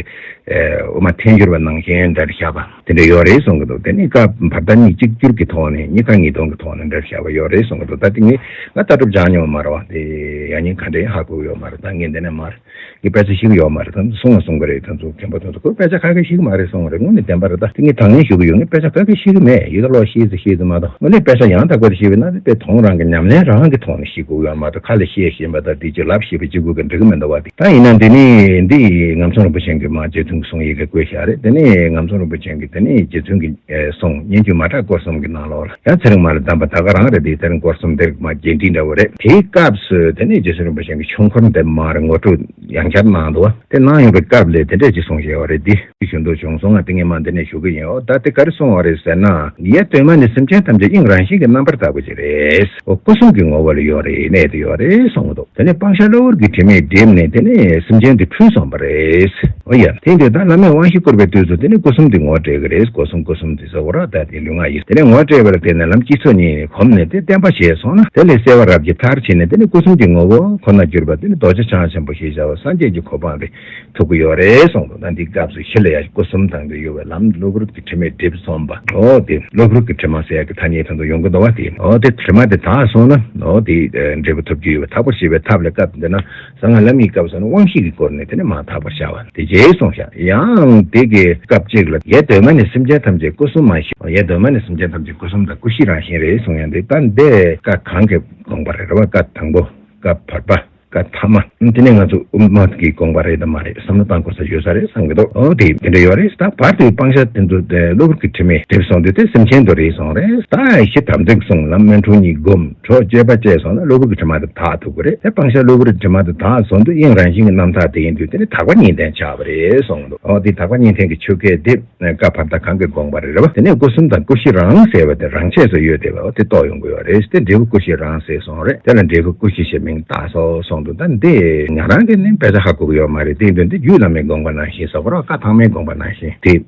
འོ་མ་འཐེན་ཤོར་བ་ནང་བཞིན་འདྲ་བཞག་པ་དེ་འདྲ་ཡོད་རེད་གསུངས་གི་འདུག་དེ་ནི་བཀའ་བར་ད་གཉིས་གཅིག་གྱུར་གྱི་ཐོག་ནས་གཉིས་ཁ་གཉིས་གདོང་གི་ཐོག་ནས་འདྲ་བཞག་པ་ཡོད་རེད་གསུངས་གི་འདུག་ད་དེ་གཉིས་ང་ལྟ་གྲུབ་སྦྱངས་མྱོང་མ་ར་བ་འདི་ཡག་ཉེས་ག་འདྲའི་ཧ་གོ་གི་ཡོད་མ་རེད་ད་ངས་འདི་ནས་མར། གི་དཔེ་ཆ་ཞིག་ཡོད་མ་རེད་དམ་གསུང་ང་གསུང་གི་རེད་ད་ཚོ་མཁན་པོ་ཚོ་ད་ཁོས་དཔེ་ཆ་ཁ་ཁེ་ཤི་གི་མ་རེད་གསུང་བ་རེད་དངོས་ནས་བདེན་པ་རེད་ད་དེ་ངས་དང་ལེན་ཞུ་གི་ཡོད་ངས་དཔེ་ཆ་ཁ་ཁེ་ཤི་གི་མེད་ཡིད་ལ་ལོག་ཤེས་ཚེ་ཤེས་ཚེ་མ་གཏོགས་དངོས་གནས་དཔེ་ཆ་ཡང་དག་པའི་རེ་ཤེས་པའི་ན་དེ་དཔེ་ཐོང་རང་གི་ཉམས་ལེན་རང་གི་ཐོག་ནས་ཤེས་དགོས་ཡོད་མ་གཏོགས་ཁ་ལས་བཤད་བཞིན་པ་དང་དེ་ཅི་ལབ་ཤེས་པའི་སྤྱི་སྒོས་ཀྱི་འབྲི་གི་མི་འདུག་བ་དེ་ད་ཡིན་ན་འདི་ནི་འདི་ངམ་ཚོང་རིན་པོ་ཆེན་གྱི་མ་རྗེ་བཙུན་གྱི་གསུང་ཡི་གེ་བཀོད་ཤག་རེད་དེ་ནི་ངམ་ཚོང་རིན་པོ་ཆེན་གྱི་དེ་ནི་རྗེ་བཙུན་གྱི་གསུང་སྙན་བརྒྱུད་མ་བྲག་སྐོར་གསུམ་གྱི་ནང་ལོགས་ལ། ཡང་ཚེ་རིང་མ་ལ་གདམས་པ་ད་ག་རང་རེད་འདི་ཚེ་རིང་སྐོར་སུམ་འདེགས་མ་རྒྱས་འབྲིང་འདྲ་བོ་རེད། དེའི་སྐབས་སུ་དེ་ནས་རྗེ་བཙུན་རིན་པོ་ཆེན་གྱི་ཆོས་འཁོར་འདེབས་མར་ངོ་སྤྲོད་ཡང་བསྐྱར་གནང་འདུག་བ་དེ་གནང་ཡོང་པའི་སྐབས་ལས་དེ་འདྲས་ཅིག་སོང་ཞེས་བ་རེད་འདི། ཅིག་ཞུ་འདོད་བྱུང་སོང་ང་ཏིང་ངེ་མ་འདི་ནས་ཞུ་གི་ཡིན་འོ་ད་དེ་ག་རེ་སོང་བ་རེད་ཟེར་ན། ཡ་དོན་མ་ནི་སེམས་ཅན་ཐམས་ཅད་དབྱིངས་རང་བཞིན་གྱི་རྣམ་པར་བརྟགས་པ་ཅིག་རེད། འོ་སྐུ་གསུམ་གྱི་ངོ་བོ་ལ་ཡོད་རེད་གནས་དེ་ཡོད་རེད་སོང་འདུག་དེ་ནས་སྤང་བྱ་བློ་བུར་གྱི་དྲི་མས་བསྒྲིབས་ནས་དེ་ནས་སེམས་ཅན་དེ་འཁྲུལ་སོང་བ་རེད། འོ་ཡ་དེ་འདི་ད་བླ་མས་དབང་བཞི་བསྐུར་བའི་དུས་སུ་དེ་ནས་སྐུ་གསུམ་འདི་ངོ་སྤྲད་གི་རེད་སྒོ་གསུམ་སྐུ་གསུམ་འདི་ཟེར་བ་ར་ད། ཀྱི་ལུས་ངག་ཡིད་དེ་ནས་ངོ་སྤྲད་པར་བལྟས་ན་ལམ་གཅིག་ཚོགས་གཉིས་ནི་གོམས་ནས་དེ་བརྟན་པར་བྱས་སོང་ན་དེ་ལས་གསལ་བ་རབ་ཀྱི་མཐར་ཕྱིན་ནས་དེ་ནི་སྐུ་གསུམ་གྱི་ངོ་བོ་ཁོ་ནར་གྱུར་པ་དེ་ནི་རྡོ་རྗེ་འཆང་ཆེན་པོ་ཞེས་བྱ་བ་སངས་རྒྱས་ཀྱི་གོ་འཕང་གི་ཐུགས་ཀྱི་ཡོ་རེ་གསུངས་འདུག་ན་འདི་སྐབས་སུ་ཧི་ལ་ཡ་སྐུ་གསུམ་དང་པོའི་གཡོ་བའི་ལམ་གློ་བུར་གྱི་དྲི་མས་བསྒྲིབས་སོང་བ་འོ་དེ་གློ་བུར་གྱི་དྲི་མ་ཟད་ཀྱི་ཐ་སྙད་དོན་དུ་ཡོངས་ཀྱི་འདོར་བ་དེ་འོ་དེ་དྲི་མ་དེ་དག་སོང་ན་འོ་དེའི་འབྲས་བུ་ཐོབ་རྒྱུ་ཡོད་པ་དག་པར་བྱེད་པའི་ཐབས་ལ་སྐབས་འདི་ན། གསང་སྔགས་ལམ་གྱི་སྐབས་སུ་ནི་དབང་བཞི་གི་སྐོར་ནི་དེ་ནི་མ་དག་པར་བྱ་བ་ནི་དེ་རྗེས་གསུངས་ཤིང། ཡང་དེ་གའི་སྐབས་གཅིག་ལ་ཡེ་གདོད་མ་ནི་སེམས་ཅན་ཐམས་ཅད་སྐུ་གསུམ་མ་ཞེས་ཡེ་གདོད་མ་ནི་སེམས་ཅན་ཐམས་ཅད་སྐུ་གསུམ་དང་སྐུ་བཞི་རང་བཞིན་རེད་གསུངས་ཡང་འདི་ལྟར་འདས་བཀའ་གང་གི་དགོངས་པ་རེད་བ་བཀའ་དང་པོ་བཀའ་བར་པ་བཀའ་ཐ་མ་དེ་ནི་ང་ཚོ་དབུ་མ་གི་དགོངས་པ་རེད་དམ་མ་རེད་བསམ་བློ་བཏང་དགོས་ས་ཡོད་ས་རེད་བསམ་གྱི་འདུག་འོ་དེ་དེ་འདྲ་ཡོད་རེད་ད་བར་དེ་སྤང་བྱ་དེ་ཚོ་གློ་བུར་གྱི་དྲི་མས་བསྒྲིབས་སོང་དེ་དེ་སེམས་ཅན་དུ་རེད་སོང་རེད་ད་ཞི་དམ་ཚིག་གསུང་ལམ་སྨོན་འཁྲུལ་གཉིས་བསྒོམ། གྲོགས་སྐྱེས་པ་བཅས་སོང་ན་གློ་བུར་གྱི་དྲི་མ་དེ་དག་ཐུག་པ་རེད་དེ་སྤང་བྱ་གློ་བུར་གྱི་དྲི་མ་དེ་དག་ཟོ་འདོད་གཡེང་རང་བཞིན་གྱི་རྣམ་ཐར་དེ་ཡིན་དུས་དེ་ནི་དག་པ་གཉིས་ལྡན་ཆགས་པ་རེད་གསུངས་འདུག་འོ་དེ་དག་པ་གཉིས་ལྡན་གྱི་ཆོས་སྐད་དེ་སྐབས་བར་ད་གང་གི་དགོངས་པ་རེད་རེད་བ་དེ་ནས་སྐུ་གསུམ་དང་སྐུ་བཞི་རང་ཟེར་བ་དེ་རང་ཆས་སུ་ཡོད་དེ་བས་དེ་རྟོགས་ཡོང་དགོས་བ་རེད་དེ་འབྲས་བུ་སྐུ་བཞི་རང་ཟེར་སོང་རེད་དེ་ལ་འབྲས་བུ་སྐུ་བཞི་ཞེས་མིང་བཏགས་སོ་གསུངས་འདུག་ད་འདི་ང་རང་གིས་ནི་དཔེ་ཆ་ཧ་གོ་གི་ཡོད་མ་རེད་དེ་དོན་དེ་རྒྱུད་བླ་མའི་དགོངས་པ་ནང་བཞིན་ཟོ་བ་རོགས་བཀའ་ཐང་མའི་དགོངས་པ་ནང་བཞིན་དེ།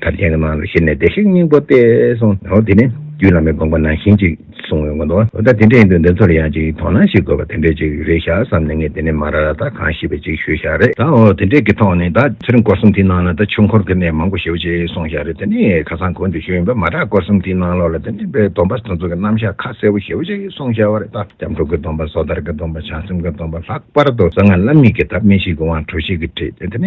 དར་ཆེན་གྱི་ནང་ལ་ཤི་ནས་བདེ་གཤེགས་སྙིང་པོ་སྟེ་གསུངས། འོ་དེ་ནི་རྒྱུད་བླ་མའི་དགོངས་པ་ནང་བཞིན་ཅིག་གསུངས་ཡོང་གི་འདུག་འོ་ད་དེ་འདྲ་ཡིན་དུས་འདི་ཚོར་ཡང་ཅིག་དོ་སྣང་ཞིག་དགོས་པ་དེ་འདྲ་ཅིག་རེད་ཤག་བསམ་ནས་ངས་དེ་ནས་མ་ར་ར་ད་གང་ཤི་བའི་ཅིག་ཞུས་ཤག་རེད་ད་འོ་དེ་འདྲའི་གི་ཐོག་ནས་ད་ཚེ་རིང་སྐོར་གསུམ་དེའི་ནང་ལ་ད་ཆོས་འཁོར་གི་གནས་མང་པོ་ཞེ་བོ་ཅིག་གསུངས་ཤག་རེད་དེ་ནས་ཁ་སང་གོ་འདི་ཞུས་ཡོང་པའི་མ་དྲག་སྐོར་གསུམ་དེའི་ནང་ལོགས་ལ་དེ་འདྲའི་པའི་སྡོམ་པ་སོ་སོ་གི་རྣམ་བཞག་ཁ་གསལ་བོ་ཞེ་བོ་ཅིག་གསུངས་ཤག་རེད་ད་སྐྱབས་འགྲོ་གི་སྡོམ་པ་སོ་ཐར་གི་སྡོམ་པ་བྱང་སེམས་གི་སྡོམ་པ་ལྷག་པར་དུ་གསང་སྔགས་བླ་མེད་ཀྱི་ཐབས་མི་ཞིག་གི་དབང་དྲོ་ཞིག་གི་བྲིས་དེ་ནས་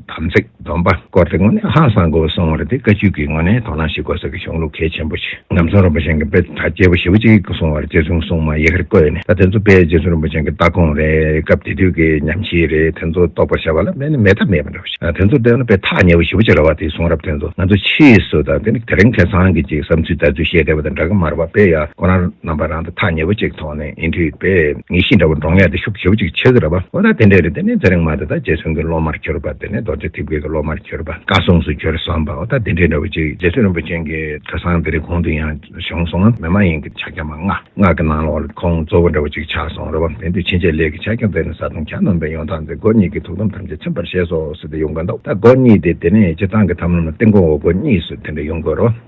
དམ་ཚིག། དོན་པ་སྐོར་དེ་ངོ་ནས་ཧང་སང་དགོས་སོང་བ་རེད་དེ་བཀའ་བཅུ་གིས་ངོ་ནས་དོ་སྣང་ཞིག་དགོས་ས་ཀྱི་གཞུང་ལུགས་གལ་ཆེན་པོ་ཞིག་ཉམས་གསུང་རིན་པོ་ཆེན་གྱི་དཔེ་ལྟ་སྐྱེས་བུ་ཞེ་བོ་གཅིག་གིས་སོང་བར་རྗེ་བཙུན་སྲུང་མ་ཡི་གེར་བཀོད་ནས་ད་དེ་ཚོ་དཔེ་རྗེ་བཙུན་རིན་པོ་ཆེན་གྱི་ལྟ་དགོངས་རེད་སྐབས་དེ་དུས་ཀྱི་ཉམས་ཤིག་རེད་དེ་ཚོ་རྟོགས་པར་བྱ་བ་ལ་དམན་ནི་མེད་ཐབས་མེད་པ་འདྲ་བོ་ཞིག་དེ་ཚོ་བལྟས་ན་དཔེ་ཐག་ཉེ་བོ་ཞེ་བོ་གཅིག་ར་བ་དེའི་གསུང་རབ་དེ་ཚོ་ང་ཚོ་ཕྱིས་སུ་དང་དེ་ནི་དེ་རིང་ཁེ་ཚང་གིས་ཅིག་བསམ་ཚུལ་ལྟ་ཚུལ་བཤད་བསྡད་པ་དང་འདྲ་གི་མར་བ་དཔེ་ཡག་ཁོ་རང་རྣམ་པ་རང་དང་ཐག་ཉེ་བོ་གཅིག་མཐོང། ཨིན་དུས་པས་ངེས་ཤེས་འདྲ་བོ་འདྲོངས་ཡག་དེ་ཤུགས་ཆེ་བོ་ཅིག་ཆེ་གི་རེད་པ་འོ་ད་དེ་འདྲས་རེད་དེ་ནས་ཚེ་རིང་མ་དེ་དང་རྗེ་བཙུན་གྱི་སློབ་མར་གྱུར་པ་དེ་ནས་རྡོ་རྗེ་ཐེབས་དགོས་ཀྱི་སློབ་མར་གྱུར་པ་བཀའ་སྲུང་སུ་གྱུར་བསམ་པ་འོ་ད་དེ་འདྲས་འདྲ་བོ་ཅིག་རྗེ་བཙུན་རིན་པོ་ཆེན་གྱི་གྲྭ་ཚང་དེ་རིགས་གོང་དུ་ཡང་བྱུང་སོང་ངམ་མེད་མ་ཡིན་གྱི་ཕྱག་རྒྱ་མ་སྔགས་སྔགས་ཀྱི་ནང་ལོགས་ལ་ཁོང་གཙོ་བོ་འདྲ་བོ་ཅིག་ཆགས་སོང་རེད་བ་དེ་འདུས་ཕྱིན་ཆད་ལས་ཀྱི་ཕྱག་རྒྱ་མཛད་ནས་བཟའ་བཏུང་གྱ་ནོམ་པའི་ཡོང་སྟངས་དེ་སྒོ་གཉིས་ཀྱི་ཐུགས་དམ་ཐམས་ཅད་ཚིམ་པར་བཞེས་སོ་ཟེར་ཏེ་ཡོང་གི་འདུག་ད་སྒོ་གཉིས་དེ་དེ་ནས་སྤྱི་བཏང་གི་ཐམ་ལམ་ལ་སྟེང་གོང་འོག་སྒོ་གཉིས་སུ་དེ་འདྲས་ཡོང་དགོས་རེད་བ།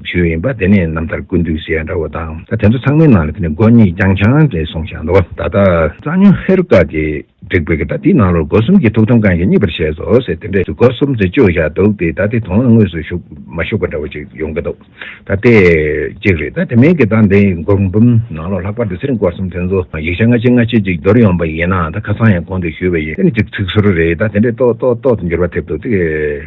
བྱུས་ཡིན་པ་དེ་ནི་རྣམ་ཐར་ཀུན་འདུས་ཟེར་ཡ་འདྲ་བོ་དང་ད་དེ་ཚོ་ཚང་མའི་ནང་ལ་དེ་ནི་སྒོ་གཉིས་རྐྱང་ཆང་རེད་སོང་ཞག་འདུག་ད་ལྟ་རྩ་ཉོན་ཧེ་རུ་ཀ་དེ་བསྒྲིགས་པའི་གི་ད་དེའི་ནང་ལོར་སྒོ་གསུམ་གྱི་ཐུགས་དམ་བསྐང་ཞིང་གཉིས་པར་བྱས་སོ་ཟེར་དེ་འདྲས་སྒོ་གསུམ་དེ་བཅོས་ཞག་འདུག་དེ་ད་དེ་དོན་ལ་དངོས་སུ་ཞུགས་མ་ཞུགས་པ་འདྲ་བོ་ཅིག་ཡོང་གི་འདུག་ད་དེ་གཅིག་རེད་ད་དེ་མིན་གི་ད་འདི་སྒོམ་གུམ་ནང་ལོར་ལྷག་པར་དུ་ཚེ་རིང་སྐོར་གསུམ་དེ་ཚོ་ཡིག་ཆ་སྔ་ཕྱི་སྔ་ཕྱི་ཅིག་འདོར་ཡོང་པ་ཡིན་ན་ད་ཁ་སང་ཡང་གོང་དུ་ཞུས་པ་ཡིན་དེ་ནི་ཅིག་ཚིག་ཟུར་རེད་ད་དེ་འདྲས་ཏོག་ཏོག་ཏོག་ཏུ་འགྱུར་བ་ཐེབས་འདུག་དེ།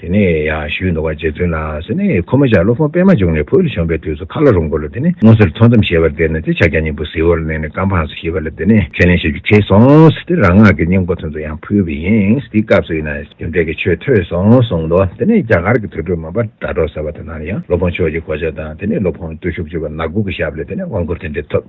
དེ་ནས་ཡང་ཞུས་འདུག་པ་རྗེ་བཙུན་ལགས་སེ་ནི་ཁོ་མོ་ཞག་སློབ་དཔོན་པད་མ་འབྱུང་ནས་བོད་ལ་བྱོན་པའི་དུས་སུ་ཁ་ལ་རུང་བོ་ལ་དེ་ནི་སྔོ་སེར་ཐོག་མཚམས་ཞེས་པར་བལྟས་ནས་དེ་ཕྱག་རྒྱ་སྙིང་པོ་ཟིལ་བོར་མནན་ནས་བཀའ་འཕངས་སོ་ཞེས་པ་ལ་དེ་ནི་ཁས་ལེན་བྱེད་རྒྱུ་བྱས་སོང་དེ་རང་སྔགས་ཀྱི་སྙིང་པོ་ཐུན་དུ་ཡང་ཕུལ་བས་ཡིན་དེའི་སྐབས་སུ་ཡིན་ན་རྒྱུ་འབྲས་ཀྱི་ཆོས་ཐོས་སོང་གསུངས་འདུག་དེ་ནས་རྒྱ་གར་གྱི་དུར་ཁྲོད་མོན་པ་སྒྲ་སྒྲོགས་ཟེར་བ་དེ་ན་ཡང་སློབ་དཔོན་ཕྱོགས་ཀྱི་གོ་ཆ་དང་དེ་ནས་སློབ་དཔོན་བརྟུལ་ཞུགས་ཅེས་པ་ནག་སྒོ་གི་ཞབས་ལས་དེ་ནས་དབང་བསྐུར་དེ་འབྲི་ཐུབ།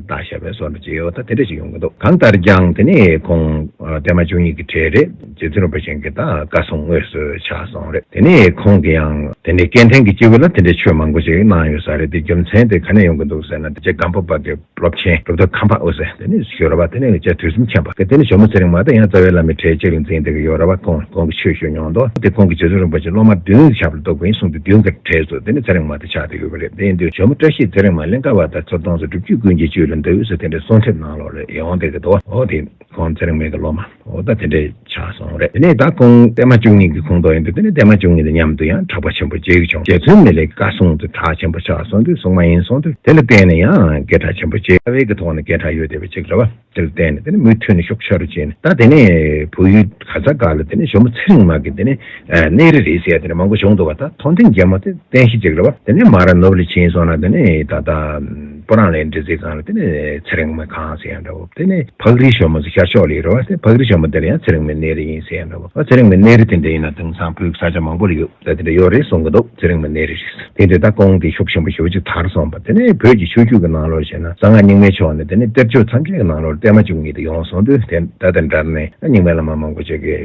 བདག་ཞབས་པའི་སོར་འཇིགས་ཡོད་ད་དེ་འདྲ་ཞིག་ཡོང་གི་འདུག་གང་ལྟར་ཀྱང་དེ་ནི་ཁོང་བསྟན་མ་བཅུ་གཉིས་ཀྱི་གྲས་རེད་རྗེ་བཙུན་རིན་པོ་ཆེ་འགས་ད་བཀའ་སྲུང་དངོས་སུ་ཕྱག་སོང་རེད་དེ་ནི་ཁོང་གི་ཡང་དེ་ནི་སྐལ་ལྡན་གྱི་སྐྱེ་བོ་ལ་དེ་འདྲའི་ཆོས་མང་པོ་ཞིག་གནང་ཡོད་ས་རེད་དེ་རྒྱུ་མཚན་དེ་ག་ནས་ཡོང་གི་འདུག་ཟེར་ན་དེ་རྗེ་སྒམ་པོ་པ་གི་སློབ་ཆེན་སྒྲུབ་ཐབས་ཁང་པ་དབུ་ཟེར་དེ་ནི་ཞོལ་ར་བ་དེ་ནི་བཅའ་དུས་གསུམ་མཁྱེན་པ་གི་དེ་ནི་ཞོལ་མོ་ཚེ་རིང་མ་དང་ཡང་རྩ་བའི་བླ་མའི་གྲས་གཅིག་ལ་འཛིན་བསྡད་ཀྱི་ཡོད་ར་བ་ཁོང་གོང་གི་ཆོས་ཞུ་མྱོང་མདོག་དེ་ཁོང་གི་རྗེ་བཙུན་རིན་པོ་ཆེ་སློབ་མ་བདུན་གྱི་ཞབས་ལ་གཏོགས་ཀྱི་ཡིན་གསུངས་དུས་བདུན་གྱི་གྲས་སུ་དེ་ནི་ཚེ་རིང་མ་དེ་ཆགས་ཡོད་པ་རེད། དེ་འདིར་ཇོ་མོ་བཀྲ་ཤིས་ཚེ་རིང་མ་གླིང་ཀ་བ་དང་ཚོ་གདོང་སོགས་སྒྲུབ་བརྒྱུད་ཀུན་གྱི་བཅུད་ལ་མདའ་དབུས་སུ་དེ་འདྲའི་གསུང་ཐེབས་གནང་ལོག་རེད་ཡོང་བསྡད་ཀྱི་འདུག་ཨོ་དེ་ཁོང་ཚེ་རིང་མེད་ཀྱི་ལོ་མ་འོ་ད་དེ་འདྲས་ཆགས་སོང་རེད་དེ་ནས་ད་ཁོང་བསྟན་མ་བཅུ་གཉིས་ཀྱི་ཁོངས་གཏོགས་ཡིན་འདུག་དེ་ནས་བསྟན་མ་བཅུ་གཉིས་དང་མཉམ་དུ་ཡང་གྲགས་པ་ཆེན་པོ་རྗེ་བྱུང་རྗེ་བཙུན་མི་ལའི་བཀའ་གསུང་དུ་གྲགས་ཆེན་པོ་ཆགས་སོང་དུས་གསུང་མ་ཡིན་གསུང་དུས་དེ་ལ་བརྟེན་ནས་ཡང་སྐད་གྲགས་ཆེན་པོ་རྗེ་བླ་བྷེ་ཀྱི་ཐོག་ནས་སྐད་གྲགས་ཡོད་བསྡད་པ་ཅིག་རེད་བ། དེར་བརྟེན་ནས་མུ་མཐུད་ནས་ཤོག་བྱ་རུ་བྱས་ནས་ད་དེ་ནས་བོད་ཡུལ་ག་ས་ག་ལ་དེ་ནས་ཞོ་མོ་ཚེ་རིང་མ་གི་དེ་ནས་གནས་རི་རེད་ཟེར་ཡ་དེ་ནས་མང་པོ་བྱུང་འདུག་བ་ད་མཐོ་འབྲིང་རྒྱལ་མོ་དེ་བསྟན་བཤིག་ཅིག་རེད་བ་དེ་ནས་མ་ར་ནུབ་ལ་ཕྱིན་སོང་ན་དེ་ནས་ད་ལྟ་པོ་རང་ལས་འབྲི་རྩིས་ཁང་ལ་དེ་ནས་ཚེ་རིང་མ་གང་ཟེར་ཡ་འདྲ་བོ་དེ་ནས་ཕག་རིའི་ཞོ་མོ་ཟེར་ཤར་ཕྱོགས་ལས་རེད་བ་དེ་ཕག་རིའི་ཞོ་མོ་དེ་ལ་ཡང་ཚེ་རིང་མའི་གནས་རི་ཡིན་ཟེར་ཡ་འདྲ་བོ་ཚེ་རིང་མའི་གནས་རི་དེ་འདྲ་ཡིན་ན་དེང་སང་བོད་ས་ཆ་མང་པོ་ལ་ཡོད། ལ་དེ་འདྲ་ཡོད་རེད་གསུང་གི་འདུག་ཚེ་རིང་མ་ནེ་རི་རེད། དེ་འདི་ལྟར་བསྐོང་དེ་ཤུགས་ཆེན་པོ་ཞུ་ཅིག་དར་སོང་བ་དེ་ནས་བོད་ཀྱི་ཆོས་རྒྱུད་ཀྱི་ནང་ལོར་བཤད་ན་གསང་སྔགས་རྙིང་མའི་ཕྱོགས་ནས་དེ་ནས་གཏེར་ཆོས་མཚམས་ཆད་ཀྱི་ནང་ལོར་གཏེར་མ་བཅུ་གཉིས་དེ་ཡོང་སོང་དུས་དེ་ད་དེ་འདྲར་ནས་རྙིང་མའི་བླ་མ་མང་པོ་ཆེ་གེ་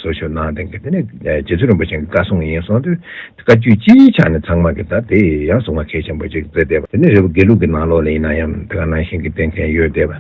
སོ་ཞོ་གནང་དེང་གི་དེ་ནས་རྗེ་བཙུན་རིན་པོ་ཆེན་གྱི་བཀའ་སྲུང་ཡིན་སོང་དུས་བཀའ་བརྒྱུད་སྤྱིའི་ཆ་ནས་ཚང་མ་གི་ད་དེ་ཡང་གསུང་བ་གལ་ཆེན་པོ་ཅིག་བཙལ་བསྡད་པ་དེ་ནས་རེ་བ་དགེ་ལུགས་ཀྱི་ནང་ལོར་ལ་ཡིན་ན་ཡང་དེ་ག་ནང་བཞིན་གྱི་བསྟེན་མཁན་ཡོད་བསྡད་པ་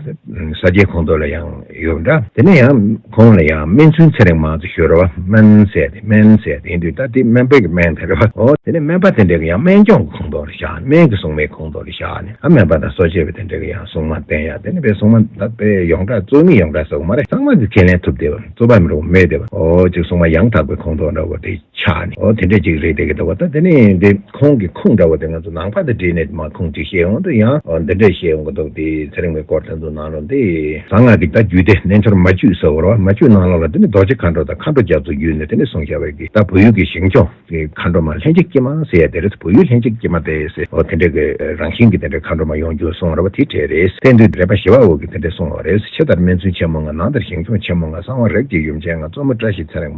ས་སྐྱའི་ཁོངས་གཏོགས་ལ་ཡང་ཡོད་འདྲ་དེ་ནས་ཡང། ཁོང་ལ་ཡང་སྨན་ཚུན་ཚད་རིང་མང་དུ་ཞུ་རེ་བ་སྨན་བསད་དེ་སྨན་བསད་དེ་དུས་ད་དེ་སྨན་པས་ཀྱི་སྨན་དེ་རེ་བ་འོ་དེ་ནས་སྨན་པ་དེ་འདྲས་ཀྱི་ཡང་སྨན་སྐྱོང་གི་ཁོངས་གཏོགས་ལ་བཞག་ནས་སྨན་གྱི་སྲུང་མའི་ཁོངས་གཏོགས་ལ་བཞག་ནས་ཨ་སྨན་པ་དང་གསོ་བྱེད་པ་དེ་འདྲས་ཀྱི་ཡང་སྲུང་མ་བསྟེན་ཡ་དེ་ནས་པའི་སྲུང་མ་ད་པའི་ཡོངས་གྲགས་གཙོས་མི་ཡོངས་གྲགས་ཟེར་བ་མ་རེད་ཚང་མ་གྱི་ཁས་ལེན་ཐུབ་བདེ་བ་གཙོ་བ་མི་རེ་བ་མེད་བདེ་བ་འོ་གཅིག་སྲུང་མ་ཡང་དག་པའི་ཁོངས་གཏོགས་འདྲ་བོ་དེ། ཆགས་ནས་ཨོ་དེ་འདྲ་ཅིག་རེད་དེ་ག་ད་བ་ད་དེ་ནས་དེ་ཁོང་གི་ཁུངས་འདྲ་བ་དེ་ང་ཚོ་ནང་པ་དང་བྲིས་ནས་མ་ཁུངས་ཅིག་བཤད་ཡོང་དུས་ཡང་ཨོ་འདི་འདྲ་བཤད་ཡོང་གི་འདུག་དེ་ཚེ་རིང་བའི་སྐོར་དེ་ཚོ་ནང་རུང་དེ། གསང་སྔགས་ཀྱི་ད་རྒྱུད་དེ་རྣལ་འབྱོར་མ་བཅུས་ཟེར་བར་བ་མ་བཅུས་སྣང་ལ་ལ་དེ་ནི་རྡོ་རྗེ་མཁའ་འགྲོ་དང་མཁའ་འགྲོ་རྒྱ་མཚོ་བརྒྱུད་ནས་དེ་ནས་གསུངས་བྱ་བའི་གི་ད་བོད་ཡུལ་གྱི་ཞིང་སྐྱོང་གི་མཁའ་འགྲོ་མ་ལྷན་ཅིག་སྐྱེས་མ་ཟེར་ཡ་དེ་རེད་བོད་ཡུལ་ལྷན་ཅིག་སྐྱེས་མ་དེ་ཟེར་ཨོ་དེ་འདྲ་གི་རང་བཞིན་གྱི་དེ་འདྲ་མཁའ་འགྲོ་མ་ཡོང་རྒྱུ་གསུངས་བར་བ་དེ་གྲས་རེད་བསྟན་དུས་དྲེགས་པ་ཞི་བ་འོད་ཀྱི་དེ་འདྲ་གསུངས་བ་རེད་ཕྱི་ལྟར་སྨན་ཚུན་ཆེན་མོ་ང་ནང་ལྟར་ཞིང་སྐྱོང་ཆེན་མོ་ང་གསང་བ་རབ་ཀྱི་ཡུམ་ཆེན་ང་གཙོ་མོ་བཀྲ་ཤིས་ཚེ་རིང་བ།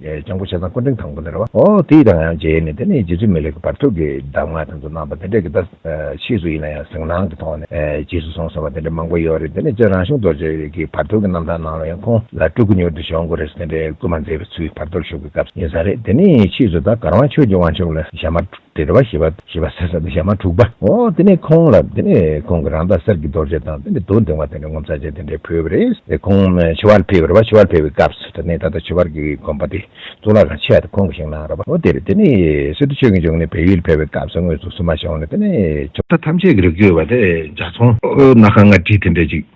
སྤྱང་པོ་ཆ་ཚང་སྐུ་འཕྲེང་དང་པོ་དེར་བ། འོ་དེ་ཡིས་ད་ང་ཡང་བརྗེད་ནས་དེ་ནས་རྗེ་བཙུན་མི་ལེགས་པར་ཐུགས་ཀྱི་གདམས་ངག་དེ་ཚོ་གནང་བ་དེ་འདྲས་ཀྱི་ད་ཕྱིས་སུ་ཡིན་ན་ཡང་གཟིགས་སྣང་གི་ཐོག་ནས་རྗེས་སུ་བཟུང་སོང་བ་དེ་འདྲས་མང་པོ་ཡོད་རེད་དེ་ནས་བཅས་རང་གཞུང་རྡོ་རྗེ་གི་བར་དོའི་གི་རྣམ་ཐར་ནང་ལ་ཡང་ཁོང་ལ་སྤྲུལ་སྐུ་མྱུར་དུ་བྱོན་དགོས་རེད་ཟེར་དེ་འདྲས་སྐུལ་མ་མཛད་པའི་ཚུལ་བར་དོར་ཞུ་གི་སྐབས་ཡིན་ས་རེད་དེ་ནས་ཕྱིས་སུ་ད་གར་དབང་ཆོས་ཀྱི་དབང་ཕྱུག་ལ་ཞྭ་དམར་འདྲེར་བ་ཞེས་པ་ཞེས་པ་ཟེར་ས་དེ་ཞག་མ་དྲུག་པ། འོ་དེ་ནས་ཁོང་ལ་དེ་ནས་ཁོང་གི་རང་རྟགས་གསེར་གྱི་རྡོ་རྗེ་དང་དེ་ནས་རྡོ་འབྲིང་བ་དེ་ནས་ངོ་མཚར་ཅན་དེ་འདྲས་ཕུལ་བ་རེད་དེ་ཁོང་མཆོད་པར་ཕེབས་ར་བ་མཆོད་པར་ཕེབས་པའི་སྐབས་སུ་དེ་ནས་ད་ལྟ་མཆོད་པར་གྱི་དགོན་པ་དེ་གཙུག་ལག་ཁང་ཆེ་བ་དེ་ཁོང་གིས་བཞེངས་གནང་ར་བ་འོ་དེ་རེད་དེ་ནས་སི་ཏུ་ཆོས་དགེ་འབྱུང་གནས་བལ་ཡུལ་ཕེབས་པའི་སྐབས་སུ་དངོས་སུ་བསུ་མ་བྱུང་ནས་དེ་ནས། ཐམས་ཅད་ཀྱི་རིགས་བརྒྱུད་པ་དེ་འཇག་ཚོང། སྣ་ཁ་ལྔ་བྲིས་དེ་འདྲས་ཅིག།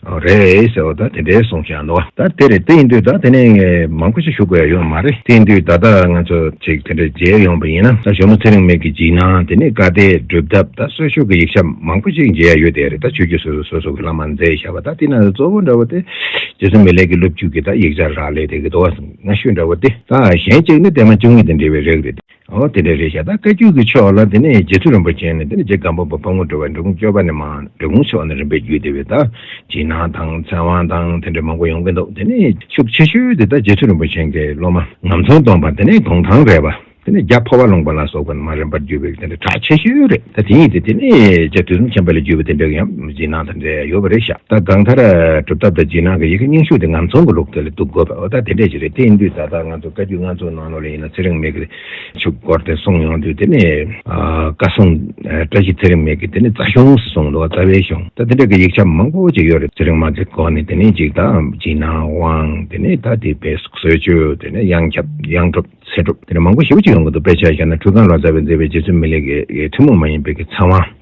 རེད་ཟེར་བ་ད་དེ་འདྲའི་གསུང་བཞག་འདུག་ད་དེ་རེད་དེ་ཡིན་དུས་ད་དེ་ནས་མང་པོ་ཞིག་ཞུ་དགོས་ཡ་ཡོད་མ་རེད་དེ་དུས་ད་ལྟ་ང་ཚོ་ཅིག་དེ་འདྲ་མཇལ་ཡོང་པ་ཡིན་ན་ད་ཞོ་མོ་ཚེ་རིང་མེད་ཀྱི་འཇིགས་སྣང་དེ་ནས་བཀའ་གཏད་སྒྲུབ་ཐབས་ད་གསོལ་ཤོག་གི་ཡིག་ཆ་མང་པོ་ཞིག་མཇལ་ཡ་ཡོད་དེ་རེད་ད་ཆོས་རྒྱུད་སོ་སོ་སོ་སོ་གི་བླ་མ་མཛད་བཞག་པ་ད་དེ་ན་གཙོ་བོ་འདྲ་བ་དེ་རྗེ་བཙུན་མི་ལེགས་ཀྱི་སློབ་བརྒྱུད་ཀྱི་ད་ཡིག་ཆ་རག་ལས་དེ་གི་དོ་བ་སྔ་ཤོས་འདྲ་བ་དེ་ད་གཞན་གཅིག་ནི་དེ་མ་བཅུ་གཉིས་དེ་འབྲི་བའི་རིགས་རེད་དེ། ཨོ་དེ་འདྲ་རེད་བཞག་ད་བཀའ་རྒྱུད་ཀྱི་ཕྱོགས་ལ་དེ་ནས་རྗེ་བཙུན་རིན་པོ་ཆེ་ནས་དེ་ནས་རྗེ་སྒམ་པོ་བ་ཕག་མོ་འགྲོ་བས་འབྲི་གུང་སྐྱོ་བ་ནས་མ་འབྲི་གུང་ཕྱོགས་ནས་རིམ་པས་བརྒྱུད་དེ་བས་ད་བྱིན་ནང་དང་ཚན་དབང་དང་དེ་འདྲ་མང་པོ་ཡོང་གི་འདུག་དེ་ནས་ཤུགས་ཆེ་ཤོས་དེ་ད་རྗེ་བཙུན་རིན་པོ་ཆེན་གྱི་སློབ་མ་ངམ་ཚོང་སྟོང་པ་དེ་ནས་གུང་ཐང་རས་པ་དེ་ནས་རྒྱ་ཕོ་བ་ལུང་པ་ལ་སོགས་པ་ནས་མ་རིམ་པར་བརྒྱུད་པའི་དེ་འདྲ་གྲགས་ཆེ་ཤོས་རེད་ད་དེ་ཡིན་ཏེ་དེ་ནས་རྗེ་དུས་གསུམ་ཆེན་པོ་ལས་བརྒྱུད་པ་དེ་འདྲ་ཡང་བྱིན་ནང་དང་འདྲ་ཡོད་པ་རེད་བཞག་ད་གང་ལྟར་གྲུབ་ཐོབ་དང་བྱིན་ནང་གི་ཡི་གེ་རྙིང་ཤོས་དེ་ངམ་ཚོང་གི་ལུགས་དེ་ལ་གཏུགས་དགོས་པ་འོ་ད་དེ་འདྲས་ཞིག་རེད་དེ་ཡིན་དུས་ད་ལྟ་ང་ཚོ་བཀའ་རྒྱུད་ང་ཚོ་ལོ་ལེགས་ཡིན་ན་ཚེ་རིང་མེད་གི། ཆུ་སྒོར་དེ་སོང་ཡོང་དུས་དེ་ནི་བཀའ་སྲུང་བཀྲ་ཤིས་ཚེ་རིང་མེད་གི་དེ་ནི་རྩ་གཞུང་སུ་སོང་འདུག་རྩ་བའི་གཞུང་ད་དེ་འདྲ་གི་ཡིག་ཆ་མང་པོ་ཅིག་ཡོད་རེད་ཚེ་རིང་མ་ཚེ་སྒོར་ནི་དེ་ནི་འཇིག་ད་འཇིག་ན་དབང་དེ་ནི་ད་དེ་བེ་སུག་སོད་ཆུ་དེ་ནི་གཡང་ཁྱབ་གཡང་སྒྲུབ་ཚེ་སྒྲུབ་དེ་ནི་མང་པོ་ཞིབ་ཅིག་ཡོང་གི་འདུག་དཔེ་ཆ་ཤར་ན་ཁྲུས་ཁང་ལ་རྩ་བའི་མཛད་པའི་རྗེ་བཙུན་མི་ལེགས་ཀི་ཐུན་མོང་མ་ཡིན་པའི་གི་ཚང་བ།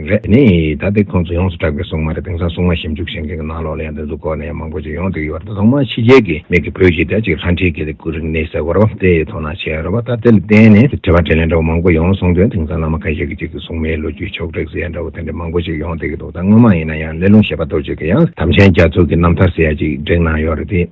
རེད། དེ་ནས་ད་ལྟའི་ཁོང་ཚོ་ཡོངས་སུ་གྲགས་པའི་སྲུང་མ་རེད་དེང་སང་སྲུང་མ་ཞིབ་འཇུག་བྱེད་མཁན་གྱི་ནང་ལོགས་ལ་ཡང་འདི་ཚོ་སྐོར་ནས་ཡང་མང་པོ་ཞིག་ཡོང་འདོད་ཡོད་པ་རེད་ཐོག་མར་ཕྱི་རྒྱལ་གྱི་མིག་གིས་བོད་གཞིས་བྱེས་གཅིག་ལྷ་འདྲེས་གྱི་ལས་འགུལ་རིག་གནས་གསལ་བོར་དེ་ཡི་ཐོག་ན་བྱས་ཡོད་རེད་བ་ད་དེ་ལ་བརྟེན་ནས་དྲི་བ་དྲིས་ལན་འདྲ་བོ་མང་པོ་ཡོང་སོང་དོན་དེང་སང་བླ་མ་ཁ་ཤས་ཀྱི་གཅིག་གི་སྲུང་མའི་ལོ་རྒྱུས་ཕྱོགས་བསྒྲིགས་ཟེར་ཡ་འདྲ་བོ་དེ་འདྲ་མང་པོ་ཞིག་ཡོང་འདོད་ཀྱི་འདུག་ད་སྔོན་མ་ཡིན་ན་ཡང་གླེ་ལུང་ཞེས་པ་རྡོ་རྗེ་གི་ཡང་དམ་ཆེན་རྒྱ་མཚོ་གི་རྣམ་ཐར་ཟེར་ཡ་གཅིག་བསྒྲིགས་གནང་ཡོད་རེད་དེ།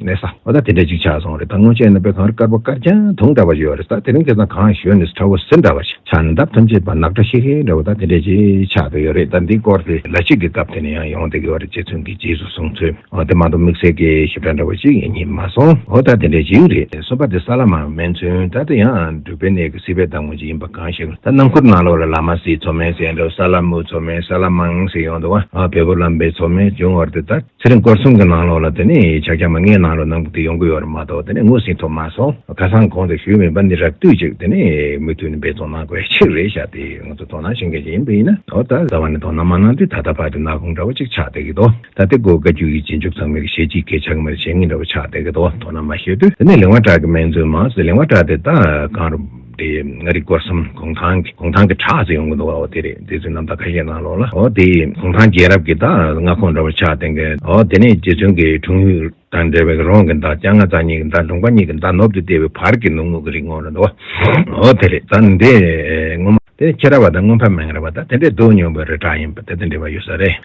མེད་ས་བ་ད་དེ་འདྲ་ཅིག་ཆགས་སོང་རེད་ད་སྔོན་ཆད་ན་དཔེ་ཁང་རུ་དཀར་པོ་དཀར་རྐྱང་དུང་འདྲ་བ་ཡོད་རེད་ས་དེ་རིང་སྐལ་བཟང་གང་ཞོན་ནས་ཁྲ་བོ་ཟིལ་འདྲ་བ་ཞིག་ཆགས་ནས་འདབ་ཐམས་ཅད་པ་ནག་ཁྲ་ཤིག་ཤིག་འདྲ་བ་ད་དེ་འདྲ་ཅིག་ཆགས་འདུག་ཡོད་རེད་ད་འདི་སྐོར་དེ་ལ་ཅིག་གི་སྐབས་དེ་ནས་ཡང་ཡོང་བསྡད་ཀྱི་ཡོད་རེད་ཅེས་ཚུན་གྱི་རྗེས་སུ་བཟུང་ཚོད་དེ་མ་འདུག་དམིགས་བསལ་གྱི་ཞིབ་ཕྲ་འདྲ་བ་ཅིག་ཡིན་ཉིད་མ་སོང་འོ་ད་དེ་འདྲ་ཅིག་རེད་གསུངས་པ་དེ་ས་ལ་མ་སྨིན་ཚུན་ད་དེ་ཡང་འབྲུག་པའི་གནས་ཀྱི་སྲིད་པའི་བདག་མོ་ཅིག་ཡིན་པ་གང་ཤེས་ད་ནང་ཁུལ་ནང་ལོགས་ལ་ལ་མ་སྲིད་ཚོ་མེད་ཟེར་འདུག་ས་ལ་མུ་ཚོ་མེད་ས་ལ་མང་ཟེར་ཡོང་འདུག་བ་བལ་པོ་ལམ་པའི་ཚོ་མེད་བྱུང་བར་དེ་ད། ཚེ་རིང་སྐོར་གསུམ་གྱི་ནང་ལོགས་ལ་དེ་ནས་ཕྱག་རྒྱ་མ་ལྔའི་ནང་ལོགས་ནང་དུ་ཡོང་གི་ཡོད་རེད་མ་གཏོགས་དེ་ནས་ངོས་ཟིན་ཐོབ་མ་སོང། ཁ་སང་གོང་དུ་ཞུས་མེད་པ་འདི་རགས་བསྡུས་ཅིག་དེ་ནས་མུ་མཐུད་ནས་འབད་བརྩོན་གནང་དགོས་ཆེད་རེད་ཞག་དེ་ང་ཚོ་དོ་སྣང་བྱེད་མཁན་ཞིག་ཡིན་པ་ཡིན་ན་འོ་ད་ཟེར་བ་ནི་དོ་སྣང་མ་གནང་དུས་ད་ལྟ་བར་དུ་ནག་ཁུང་འདྲ་བོ་གཅིག་ཆགས་བསྡད་ཀྱི་འདུག་ད་ལྟའི་སྒོ་བཀའ་རྒྱུད་ཀྱི་རྗེས་འཇུག་ཚང་མས་ཞལ་གཅིག་གིས་ཕྱག་མེར་ཞལ་གཉིས་འདྲ་བོ་ཆགས་བསྡད་ཀྱི་འདུག་དོ་སྣང་མ་བྱས་དུས་དེ་ནས་ལིང་བ་གྲགས་ཀྱི་སྨན་བཙུན་མ་ཟེར་ལིང་བ་གྲགས་དེ་ད་གང་རུང། དེ་ང་རིག་སྐོར་སམ་གུང་ཐང་གི་གུང་ཐང་གི་བྲག་ཅིག་ཡོང་གི་འདུག་བ་དེ་རེད་དེ་ཚོའི་རྣམ་ཐར་ཁ་ཤས་གནང་ལོག་ལ་ཨོ་དེ་གུང་ཐང་རྒྱལ་རབས་ཀྱི་ད་མངའ་ཁོངས་འདྲ་བོ་ཆགས་དེ་གའི་ཨོ་དེ་ནས་རྗེ་བཙུན་གྱི་འཁྲུངས་ཡུལ་དང་འབྲེལ་བའི་རོང་གི་ད་སྐྱ་རྔ་ཙག་གཉིས་ཀྱི་ད་འབྲུག་པ་གཉིས་ཀྱི་ད་ནུབ་ཏུ་ལྟེ་བའི་བར་གྱི་ནུབ་ངོགས་ཀྱི་རི་ངོགས་རེད་འདུག་བ་ཨོ་དེ་རེད་ད་འདི་སྔོན་མ་དེ་ཁྱེད་ར་བ་ད་སྔོན་ཕ་མེང་ར་བ་ད་དེ་འདྲའི་སྡུག་མྱོང་བའི་རི་བྲག་ཡིན་པ་དེ་དང་འབྲེལ་བ་ཡོད་ས་རེད།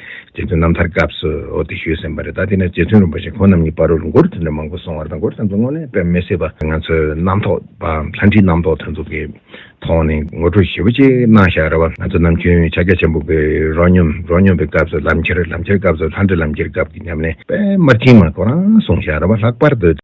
རྗེ་བཙུན་རྣམ་ཐར་སྐབས་སུ་འོ་དེ་ཞུས་ཟིན་པ་རེད་ད་དེ་ནས་རྗེ་བཙུན་རིན་པོ་ཆེ་ཁོང་རྣམ་གཉིས་པར་རོ་ལུ་མགོར་དེ་འདྲ་མང་པོ་སོང་བར་དང་འགོར་དེ་ཚོ་དངོས་གནས་དཔེ་མི་སྲིད་པ་ང་ཚོའི་རྣམ་ཐོག་པའམ་ལྷ་འདྲེའི་རྣམ་རྟོག་དེ་ཚོ་གི་ཐོག་ནས་ངོ་སྤྲོད་ཞིབ་པོ་ཅིག་གནང་བཞག་རེ་བ་ང་ཚོ་ནམ་རྒྱུན་ཕྱག་རྒྱ་ཆེན་པོ་པའི་རོ་སྙོམ་རོ་སྙོམ་པའི་སྐབས་སུ་ལམ་ཁྱེར་ལམ་ཁྱེར་སྐབས་སུ་ལྷ་འདྲེ་ལམ་ཁྱེར་སྐབས་ཀྱི་ཉམས་ལེན་པདྨ་དྲིན་མ་ཁོ་རང་གསུང་བཞག་རེ་བ་ལྷག་པར་དུ།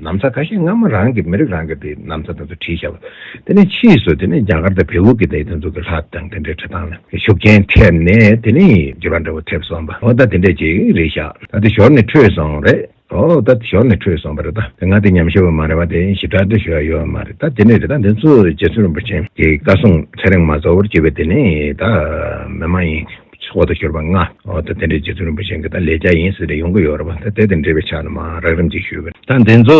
ནམ་ཚ་ཁ་ཤས་སྔ་མོ་རང་གི་མི་རིགས་རང་གི་དེ་ནམ་ཚ་དང་ཚུ་ཁྲིའི་ཞབས་དེ་ནས་ཕྱིས་སུ་དེ་ནས་རྒྱ་གར་དང་བལ་བོ་གི་དེ་དང་ཚུ་གི་ལྷ་དང་དེ་འདྲའི་ཁྲི་ཐང་ལ་ཤུགས་རྐྱེན་ཐེབས་ནས་དེ་ནས་རྒྱུ་བ་འདྲ་བོ་ཐེབས་སོང་བ་འོ་ད་དེ་འདྲས་ཅིག་རེད་ཤག་ད་དེ་ཞོར་ནས་འཕྲོས་སོང་རེད་འོ་ད་དེ་ཞོར་ནས་འཕྲོས་སོང་བ་རེད་ད་དེ་ང་དེ་ཉམས་ཞུ་བ་མ་རེད་བ་དེ་ཞི་དྲག་འདྲ་ཞུ་ཡ་ཡོད་བ་མ་རེད་ད་དེ་འདྲས་རེད་ད་དེ་ཚོ་རྗེ་བཙུན་རིན་པོ་ཆེན་གྱི་བཀའ་གསུང་ཚེ་རིང་མ་གཙོ་བོར་གྱུར་བའི་དེ་ནས་ད་མི་མ་ཡིན། ཚོགས་དང་ཤོར་བ་ལྔ། ད་དེ་འདྲའི་རྗེ་བཙུན་རིན་པོ་ཆེ་འགའ་ད་ལས་རྒྱ་ཡིན་ཟེར་ཏེ་ཡོང་གི་ཡོད་རེད་བ་ད་དེ་དང་འབྲེལ་བའི་ཕྱག་ན་མང་རག་རིམ་གྱིས་ཞུས་པ་ད་འདི་ཚོ་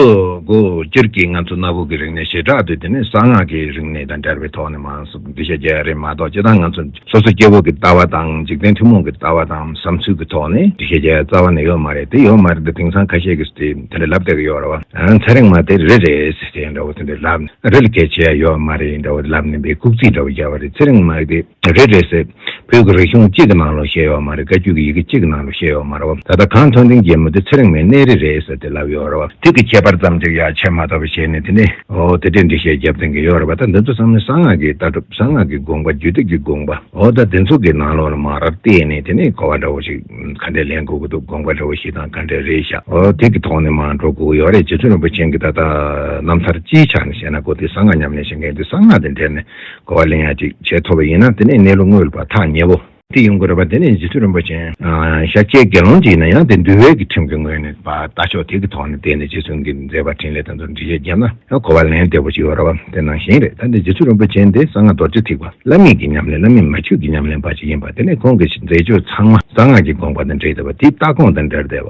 གོ་སྤྱིར་གྱི་ང་ཚོ་གནའ་བོའི་གི་རིག་གནས་ཞེ་དྲག་དུས་དེ་ནས་གསང་སྔགས་ཀྱི་རིག་གནས་དང་འདྲ་བའི་ཐོག་ནས་མང་སུ་འདི་བཤད་རྒྱ་ཡ་རེད་མ་གཏོགས་སྤྱི་དང་ང་ཚོ་སོ་སོ་སྐྱེ་བོ་གི་ལྟ་བ་དང་འཇིག་རྟེན་ཐུན་མོང་གི་ལྟ་བ་དང་བསམ་ཚུལ་གི་ཐོག་ནས་འདི་བཤད་རྒྱ་ཡ་རྩ་བ་ནས་ཡོད་མ་རེད་དེ་ཡོད་མ་རེད་དེ་དེང་སང་ཁ་ཤས་ཀྱིས་དེ་དེ་འདྲ་ལབ་བསྡད་ཀྱི་ཡོད་རེད་བ་ཚེ་རིང་མ་དེ་རེད་རེད་ཟེར་ཏེ་འདྲ་བོ་དེ་འདྲ་ལབ་ནས་རེད་ལ་གལ་ཆེ་ཡ་ཡོད་མ་རེད་འདྲ་བོ་ལབ་ནས་འདི་ཁུག་རྩིས་འདྲ་བོ་རྒྱབ་བ་རེད་ཚེ་རིང་མ་དེ། རེད་རེད་ཟེར། བོད་ཀྱི་རིག་གཞུང་གཅིག་གི་ནང་ལོ་བཤད་ཡོག་མ་རེད་བཀའ་རྒྱུད་ཀྱི་ཡི་གེ་གཅིག་གི་ནང་ལོ་བཤད་ཡོག་མ་རེད་བ་ད་ལྟ་གང་མཐོང་དེང་རྒྱལ་མོ་དེ་ཚེ་རིང་མའི་གནས་རི་རེད་ཟེར་དེ་ལབ་ཡོག་རེད་བ། དུས་ཀྱི་ཁྱད་པར་ཙམ་གཅིག་ཡ་ཆད་མ་གཏོགས་པའི་ཞེས་ནས་དེ་ནས། ཨོ་དེ་འདྲས་འདྲི་བཤད་རྒྱབ་འཐེན་གི་ཡོག་རེད་བ་ད་འདི་ཚོ་བསམ་ན་གསང་སྔགས་ཀྱི་ལྟ་གྲུབ་གསང་སྔགས་ཀྱི་དགོངས་པ་རྒྱུད་སྡེ་ཀྱི་དགོངས་པ་ཨོ་ད་དེ་ཚོ་གི་ནང་ལོ་ལ་མ་རར་བལྟས་ནས་དེ་ནས་གོ་བ་འདྲ་བོ་ཞིག་ག་འདྲས་ལེན་དགོས་ཀྱི་འདུག་དགོངས་པ་འདྲ་བོ་ཞིག་དང་ག་འདྲས་རེད་ཤག་ཨོ་དེ་ཀྱི་ཐོག་ནས་མ་འགྲོ་དགོས་ཀྱི་ཡོག་རེད་རྗེ་བཙུན་རིན་པོ་ཆེན་གྱི་ད་ལྟ་རྣམ་ཐར་སྤྱིའི་ཆ་ནས་བཤད་ན་གོ་དེ་གསང་སྔགས་ཉམས་ལེན་བྱེད་མཁན་དེ་གསང་སྔགས་དེ་འདྲས་ནས་གོ་བ་ལེན་ཡ་ཅིག་བྱས་ཐོབ་པ་ཡིན་ན་དེ་ནི་གནས་ལུགས་དངོས་པ་ཐག་ཉེ་བོ། དེ་ཡོང་དགོས་རེད་པ་དེ་ནི་རྗེ་བཙུན་རིན་པོ་ཆེ། ཤཱཀྱའི་དགེ་སློང་གཅིག་ཡིན་ན་ཡང་དེ་འདུལ་བའི་གི་ཁྲིམས་ཀྱི་ངོས་ནས་བ་ལྟ་ཆོག་དེ་གི་ཐོག་ནས་བལྟས་ནས་རྗེ་བཙུན་གི་མཛད་པ་འཕྲིན་ལས་དང་ཚུལ་འདྲི་བྱས་རྒྱབ་ན་ཡང་གོ་བ་ལེན་བདེ་བོ་ཅིག་ཡོད་རེད་བ་དེ་ནང་བཞིན་རེད་ད་ནི་རྗེ་བཙུན་རིན་པོ་ཆེ་འདི་གསང་སྔགས་རྡོ་རྗེ་ཐེག་པ་བླ་མེད་ཀྱི་ཉམས་ལེན་བླ་མེད་མ་ཆོས་ཀྱི་ཉམས་ལེན་པ་ཞིག་ཡིན་པ་དེ་ནི་ཁོང་གི་མཛད་སྤྱོད་ཚང་མ་གསང་སྔགས་ཀྱི་དགོངས་པ་དང་འབྲེལ་བདེ་བ་དེའི་ལྟ་དགོངས་དང་འབྲེལ་བདེ་བ།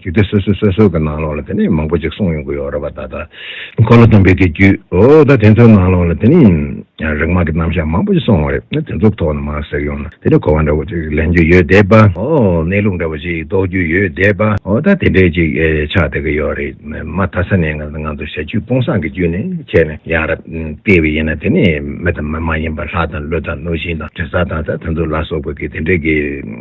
རྒྱུད་སྡེ་སོ་སོའི་སོ་སོའི་གི་ནང་ལོགས་ལ་དེ་ནས་མང་པོ་ཅིག་གསུངས་ཡོང་གི་ཡོད་རེད་པ་ད་ལྟ། འཁོར་ལོ་སྟོན་པའི་དེ་རྒྱུད་འོ་ད་དེ་ཚོའི་ནང་ལོགས་ལ་དེ་ནས་རིག་མ་གི་རྣམ་གཞག་མང་པོ་ཅིག་གསུངས་ཡོང་རེད་དེ་ཚོའི་ཐོག་ནས་མ་ཟེར་ཡོང་ན་དེ་ནས་གོ་བ་འདྲ་བོ་ཅིག་ལེན་རྒྱུ་ཡོད་བསྡད་པ་འོ་གནས་ལུགས་འདྲ་བོ་ཅིག་རྟོགས་རྒྱུ་ཡོད་བསྡད་པ་འོ་ད་དེ་འདྲས་ཅིག་ཆགས་བསྡད་གི་ཡོད་རེད་མ་ད་ས་ནས་ང་ཚོ་ཞལ་རྒྱུད་སྤོང་སངས་ཀི་རྒྱུད་ནས་ཁྱེད་ནས་ཡང་རབ་བལྟས་བས་ཡིན་ན་དེ་ནས་མི་དང་མི་མ་ཡིན་པ་ལྷ་དང་ཀླུ་དང་གནོད་སྦྱིན་དང་དྲི་ཟ་དང་ད་དེ་ཚོ་ལ་སོགས་པ་གི་དེ་འདྲས་གི།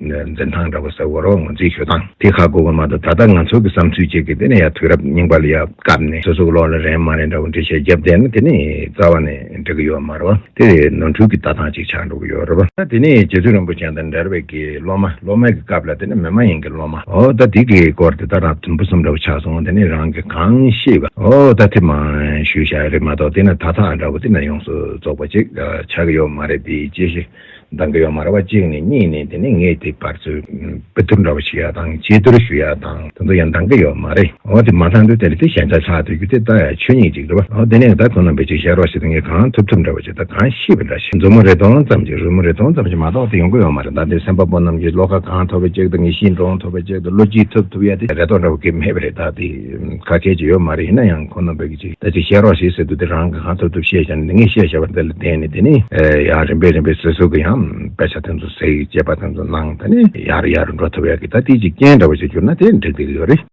འཛིན་སྟངས་འདྲ་པོ་ཟེར་བ་རོགས་ངོ་འཛིན་ཞུ་དང་དེ་ཁག་དགོས་པ་མ་གཏོགས་ད་ལྟ་ང་ཚོ་གི་བསམ་ཚུལ་གཅིག་གི་དེ་ནས་ཡ་དུས་རབས་རྙིང་པ་ལ་ཡ་སྐབས་ནས་སོ་སོག་ལོག་ལ་རན་མ་རན་འདྲ་པོ་འདྲི་བྱེད་རྒྱབ་བསྡད་ན་དེ་ནས་རྩ་བ་ནས་འགྲིག་གི་ཡོད་མ་རེད་བ་དེ་རེད་ནོར་འཁྲུལ་གི་ལྟ་སྟངས་གཅིག་ཆགས་འགྲོ་གི་ཡོད་རེད་བ། ད་དེ་ནས་རྗེ་བཙུན་རིན་པོ་ཆེན་དང་འདྲ་བའི་གི་སློབ་མ་སློབ་མ་གི་སྐབས་ལ་དེ་ནས་མི་མ་ཡིན་གི་སློབ་མ་ཨོ་ད་དེ་གི་སྐོར་དེ་ལྟ་རང་དུམ་བུ་གསུམ་འདྲ་པོ་ཆགས་སོང་དེ་ནས་རང་གི་གང་ཤེས་བ་ཨོ་ད་དེ་མ་ཞུས་བཞག་རེད་མ་གཏོགས་དེ་ནས་ད་ཐག་འདྲ་པོ་དེ་ནས་ཡོངས་སུ་རྫོགས་པ་གཅིག་ཆགས་གི་ཡོད་མ་རེད་དེ་ཅི་ཞིག། འདང་གི་ཡོད་མ་རེད་བ་གཅིག་ནས་གཉིས་ནས་དེ་ནས་ངས་དེ་བར་ཚོས་དཔེ་བསྡུར་འདྲ་བོ་ཞིག་ཡག་དང་དཔྱད་བསྡུར་ཞུ་ཡག་དང་དེ་ཚོ་ཡང་འདང་གི་ཡོད་མ་རེད་འོ་དེ་མ་ཚང་དུས་དེ་ལ་དེ་ཞན་ཆ་ཆགས་དུས་རྒྱུ་དེ་ད་ཡ་ཆོས་ཉིད་ཅིག་རེད་བ་འོ་དེ་ནས་ད་ཁོང་རྣམ་པས་ཅིག་བཤད་རོགས་ཞེས་དེ་ངས་གང་ཐུབ་ཐུབ་འདྲ་བོ་ཞིག་དང་གང་ཤེས་པ་འདྲ་ཞིག་མཛུབ་མོ་རེ་སྟོང་ཙམ་ཞིག་རོལ་མོ་རེ་སྟོང་ཙམ་ཞིག་མ་གཏོགས་དེ་ཡོང་གི་ཡོད་མ་རེད་ད་དེ་སེམས་དཔའ་པོ་རྣམས་ཀྱིས་བློ་ཁ་གང་ཐོབ་པའི་ཅིག་དང་ངེས་ཤིང་འདྲོངས་ཐུབ་པའི་ཅིག་དང་བློ་སྐྱིད་ཐུབ་ཐུབ་ཡ་དེ་རེ་དོགས་འདྲ་བོ་གིས་མེད་པ་རེད་ད་དེ། ཁ་སྐད་ཅིག་ཡོད་མ་རེད་ཡིན་ན་ཡང་ཁོ་ནོར་བོད་ཀྱི་ཅིག་ད་ཅིག་བཤད་རོགས་ཞེས་ཟེར་འདུག་འདི་རང་གི་གང་ཐུབ་ཐུབ་བཤད་བྱ་ནི་འདི་ངས་བཤད་བྱ་བ་འདི་ལ་བརྟེན་ནས་དེ་ནི་ཡང་རིམ་པས་རིམ་པས་སོ་སོ་གི་ཡང་དཔེ་ཆ་དེ་ཚོ་གཟིགས་དཔྱད་པ་དེ་ཚོ་གནང་ད་ནི་ཡག་རེད་ཡག་རེད་འགྲོ་ཐུབ་ཡག་གི་ད་ཏིག་ཅིག་རྐྱེན་འདྲ་བོ་ཞིག་གྱུར་ན་དེ་འགྲིག་འདུག་གི་ཡོད་རེད།